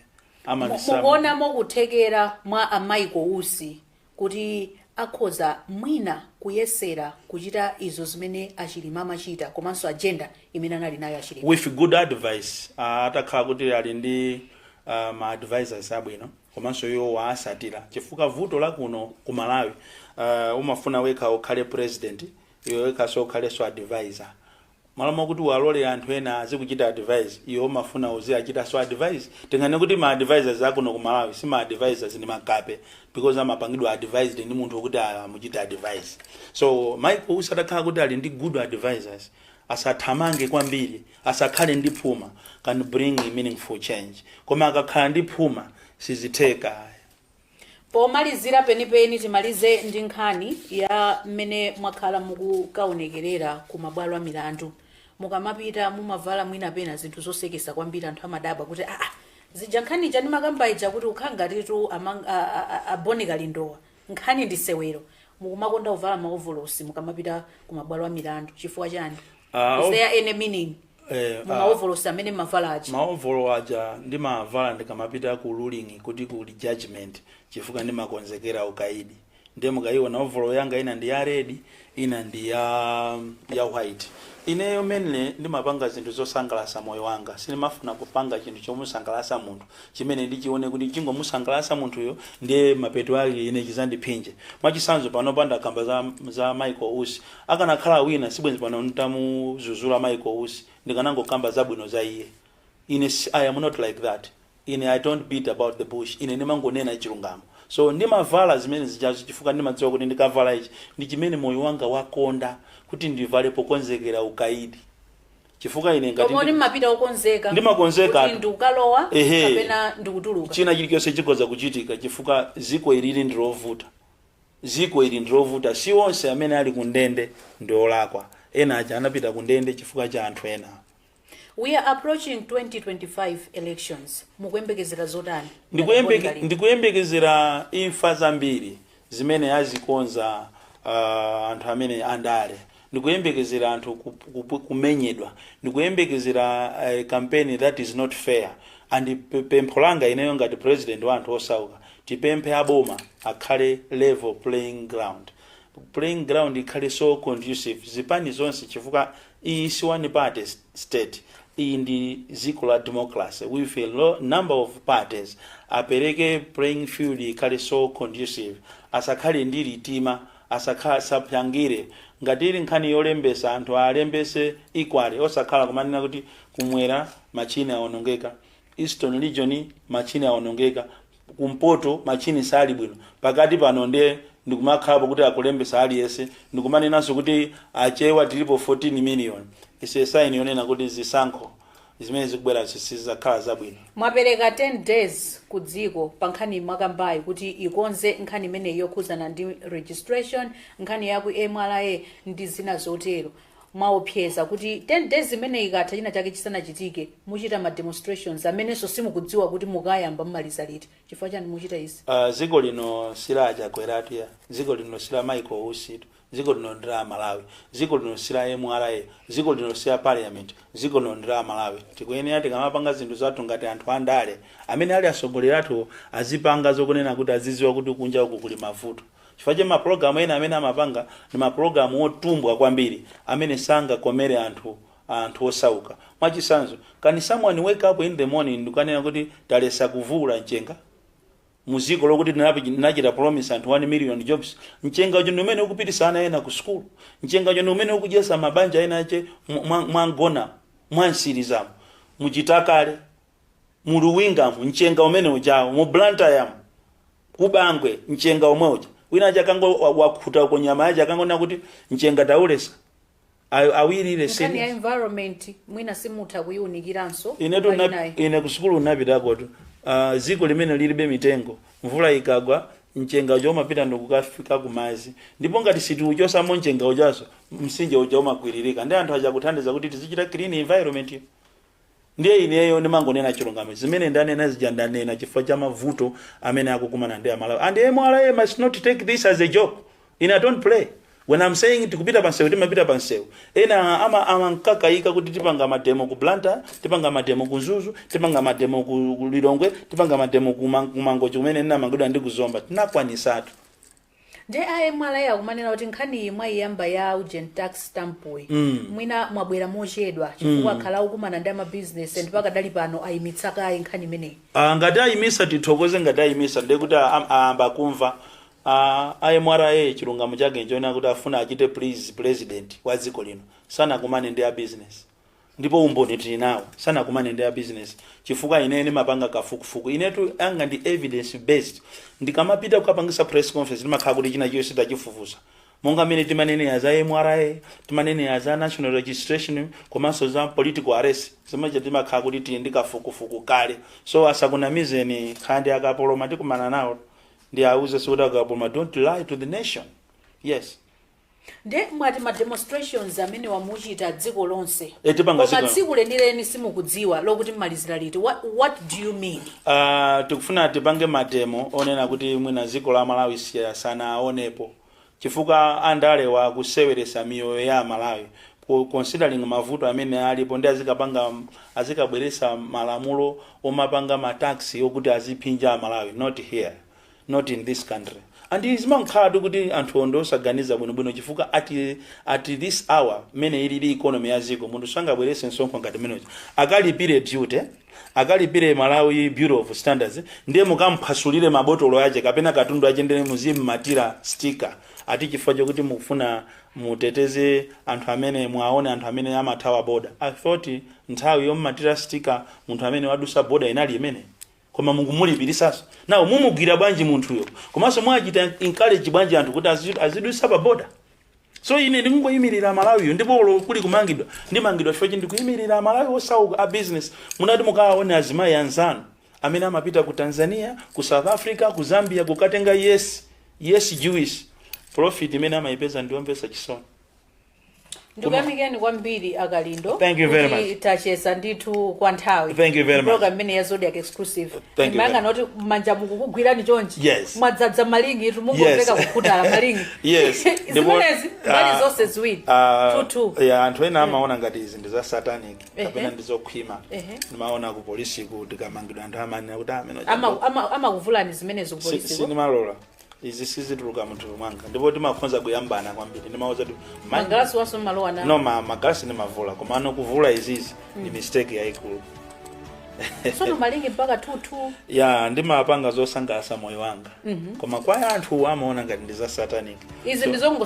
amandisam- mukuonamo kuthekera mwa a Michael Usi kuti akhoza mwina kuyesera kuchita izo zimene a Chilima amachita komanso agenda imene anali nayo a Chilima. With good advice atakhala kuti ali ndi ma advisors abwino komanso iwo awatsatira chifukwa vuto la kuno ku Malawi umafuna wekha ukhale president iwe wekhaso ukhalenso advisor M'malo mwakuti uwalole anthu ena azikuchita advise iwe umafuna uziachitanso advise? Tinganene kuti ma advisers akuno ku Malawi si ma advisers ndi makape because amapangidwa advised ndi munthu wokuti amuchite advise. So Michael Usi atakhala kuti ali ndi good advisers asathamange kwambiri asakhale ndi phuma can bring meaningful change koma akakhala ndi phuma sizitheka ayi. Pomalizira penipeni timalize ndi nkhani ya mmene mwakhala mukukaonekerera ku mabwalo a milandu. Mukamapita mumavala mwina pena zinthu zoseketsa kwambiri anthu amadabwa kuti aa zija nkhani ija ndimakamba ija kuti kukhala ngatitu amang- a- a- a- a Boni Kalindowa nkhani ndi sewero. Mukumakonda kuvala maovolosi mukamapita ku mabwalo a milandu chifukwa chani? Ah, Is o- there any meaning? eh, ah, mumaovolosi amene mmavala aja maovolo aja ndimavala ndikamapita ku ruling kuti kuli judgment chifukwa ndimakonzekera ukaidi ndiye mukayiona ovolo yanga ina ndi ya red ina ndi ya, ya white ineyo mainly ndimapanga zinthu zosangalatsa moyo wanga sindimafuna kupanga chinthu chomusangalatsa munthu chimene ndichione kuti chingomusangalatsa munthuyo ndiye mapeto ake ine chidzandiphinje mwachisanzo panopa ndakamba za, za michael usi Akanakhala wina sibwenzi pano ntamuzuzula Michael Usi, ndikanangokamba zabwino za iye. Ine si I am not like that. Ine I don't beat about the bush, ine ndimangonena chilungamo. So ndimavala zimene zijazo chifukwa ndimadziwa kuti ndikavala ichi ndi chimene moyo wanga wakonda kuti ndivale pokonzekera ukaidi. Chifukwa ine ngati Koma kuti ndi, mmapita okonzekatu. Ehe. Ndimakonzeka kuti ndikukalowa kapena ndikutuluka. china chilichonse chikhoza kuchitika chifukwa dziko ili ndilovuta. Dziko ili ndilovuta si onse amene ali ku ndende ndi olakwa ena aja anapita ku ndende chifukwa cha anthu ena. We are approaching 2025 elections mukuyembekezera zotani ngati Bon Kalindo? Ndikuyembeke, ndikuyembekezera imfa zambiri zimene azikonza ah, anthu amene andale ndikuyembekezera anthu kup, kup, kumenyedwa ndikuyembekezera uh, campaign that is not fair and pe- pempho langa ineyo ngati president wa anthu osauka tipemphe aboma akhale level playing ground playing ground ikhale so conducive zipani zonse chifukwa iyi si one party s- state iyi ndi dziko la democracy with a number of parties apereke playing field ikhale so conducive asakhale ndi litima Asakhale sapyatira. Ngati ili nkhani yolembesa anthu alembese equally osakhala kumanena kuti kumwera matchine awonongeka, eastern region matchine awonongeka, kumpoto matchine sali bwino, pakati pano nde ndikumakhalapo kuti akulembesa aliyense ndikumanenanso kuti achewa tilipo 14 million is a sign yonena kuti zisankho. zimene zikubwerazi sizidzakhala zabwino mwapereka 10 days ku dziko pa nkhani mwakambayi kuti ikonze nkhani imeneyi yokhuzana ndi registration nkhani yaku MRA ndi zina zotero mwaopseza kuti 10 days imene ikatha china chake chisanachitike muchita ma demonstrations amenenso simukudziwa kuti mukayamba mumaliza liti chifukwa chani muchita izi uh, dziko lino si la a Chakwera dziko lino si la Michael Usi tu Dziko lino ndi la amalawi, dziko lino si la MRA, dziko lino si la parliament, dziko lino ndi la amalawi. Tikuyenera tikamapanga zinthu zathu ngati anthu andale, amene ali atsogoleri athuwo azipanga zokunena kuti azidziwa kuti kunja uku kuli mavuto. Chifukwa cha mapologalamu ena amene amapanga ndi mapologalamu otumbwa kwambiri amene sangakomere anthu anthu osauka. Mwachitsanzo, can someone wake up in the morning ndikukanena kuti taletsa kuvuula mchenga? mudziko lokuti tinachita promise anthu 1 million jobs mchengawo ndi umene ukupititsa ana ena ku school mchengawo ndi umene ukudyetsa mabanja ena ake mwangonena mwa Nsiriza mu Chitakale mu Luwinga mu mchenga umene ujawo mu Blantyre ku Bangwe mchenga omwe uja wina wake akango wakhuta uko nyama yache akangonena kuti mchenga tauletsa Ayo- awiri ile nkhani ya senior environment mwina simutha kuyiunikiranso ine tuna- palinayi. ine kusukulu unapitakotu uh, ziko limene lilibe mitengo mvula ikagwa mchenga uja umapita ndikukafika kumazi ndipo ngati sitiuchosamo mchenga ujaso msinje uja umakwiririka ndiye anthu aja akuthandiza kuti tizichita clean environment Ndiye ineyo ndimangonena chilungamo zimene ndanena zija ndanena chifukwa cha mavuto amene akukumana ndi amalawi and mra must not take this as a joke ine i don't play when i'm saying tikupita pansewu timapita pansewu ena ama amankakaika kuti tipanga mademo ku blantyre tipanga mademo ku mzuzu tipanga mademo ku ku lilongwe tipanga mademo ku Man- ku mangochi kumene ndinamangidwa ndi kuzomba tinakwanisatu nde a mra akumanena kuti nkhaniyi mwayiyamba ya urgent tax stampuyi mwina mwabwera mochedwa chifukwa akhala akukumana ndi amabizinesi and pakadali pano ayimitsa kaye nkhani imeneyi Ah, ngati ayimisa tithokoze ngati ayimisa ndiye kuti a- a- ayamba kumva Ah, a mra chilungamo chake nchonena kuti akufuna achite please president wa dziko lino sanakumane ndi a business ndipo umboni tili nawo sanakumane ndi a business chifukwa ine ndimapanga kafukufuku inetu anga ndi evidence based ndikamapita kukapangisa press conference ndimakhala kuti china chiyo sitachifufuza monga mmene timanenera za mra timanenera za national registration komanso za political arrest zija timakhala kuti tili ndi kafukufuku kale so asakunamizeni and akapoloma tikumana nawo ndiwauze kuti akapoloma don't lie to the nation yes Nde mwati ma demonstrations amenewa muchita dziko lonse Eh, tipanga koma dziko- tsiku lenileni simukudziwa lokuti mmalizira liti what, what do you mean Ah, tikufuna tipange mademo onena kuti mwina dziko la malawi siya- sanaonepo chifukwa andalewa akuseweresa miyoyo ya amalawi Ku- considering mavuto amene alipo nde azikapanga azikabweresa malamulo omapanga ma tax okuti aziphinja amalawi not here not in this country and zimankhalatu kuti anthu ndi osaganiza bwinobwino chifukwa at, at this hour mmene iliri economy ya ziko munthu sangabwerese msonkho ngati umenewo akalipire duty akalipire malawi bureau of standards ndiye mukamphwasulire mabotolo ache kapena katundu ache ndiye muzimmatira sticker ati chifukwa chokuti mukufuna muteteze anthu amene muwaone anthu amene amathawa boda i thought nthawi yommatira sticker munthu amene wadusa boda inali imene koma mukumulipirisaso nawo mumugwira bwanji munthuyo komanso mwachita encourage bwanji anthu kuti azi- azidutsa pa boda so ine ndikungoyimirira amalawiyo ndipo olo kuli kumangidwa ndimangidwa chifukwa chi ndikuyimirira amalawi osauka a business mupite mukawaone azimayi anzanu amene amapita ku tanzania ku south africa ku zambia kukatenga majuisi profit imene amayipeza ndiyomvesa chisoni ndikuyamikeni kwambiri akalindo Thank you very kuti much. tacheza ndithu kwa nthawi Thank you very much. program imeneyi ya Zodiak exclusive Thank you very ndimayang'ana kuti manja ndikukugwirani chonchi Yes. mwadzadza malingi itu mungomveka Yes. kukhutala malingi yes ndipo- zimenezi mbali ah, zonse ziwiri ah, tutu ya anthu ena amaona ngati izi ndi za satanic Ehe. kapena ndi zokhwima Ehe. ndimaona ku polisiku tikamangidwa anthu amanena kuti amene Ama- ama- amakuvulani zimenezo kupolisi sindimalola izi sizituluka mthupi mwanga ndipo timakhoza kuyambana kwambiri ndimawauza kuti "Ma- magalasi awanso mmalowa nawo no ma- magalasi ndimavula koma ano kuvula izizi ndi mistake yayikulu sono malingi mpaka tutu ya ndimapanga zosangalatsa moyo wanga koma kwa anthu amaona ngati ndi za satanic izi ndizongo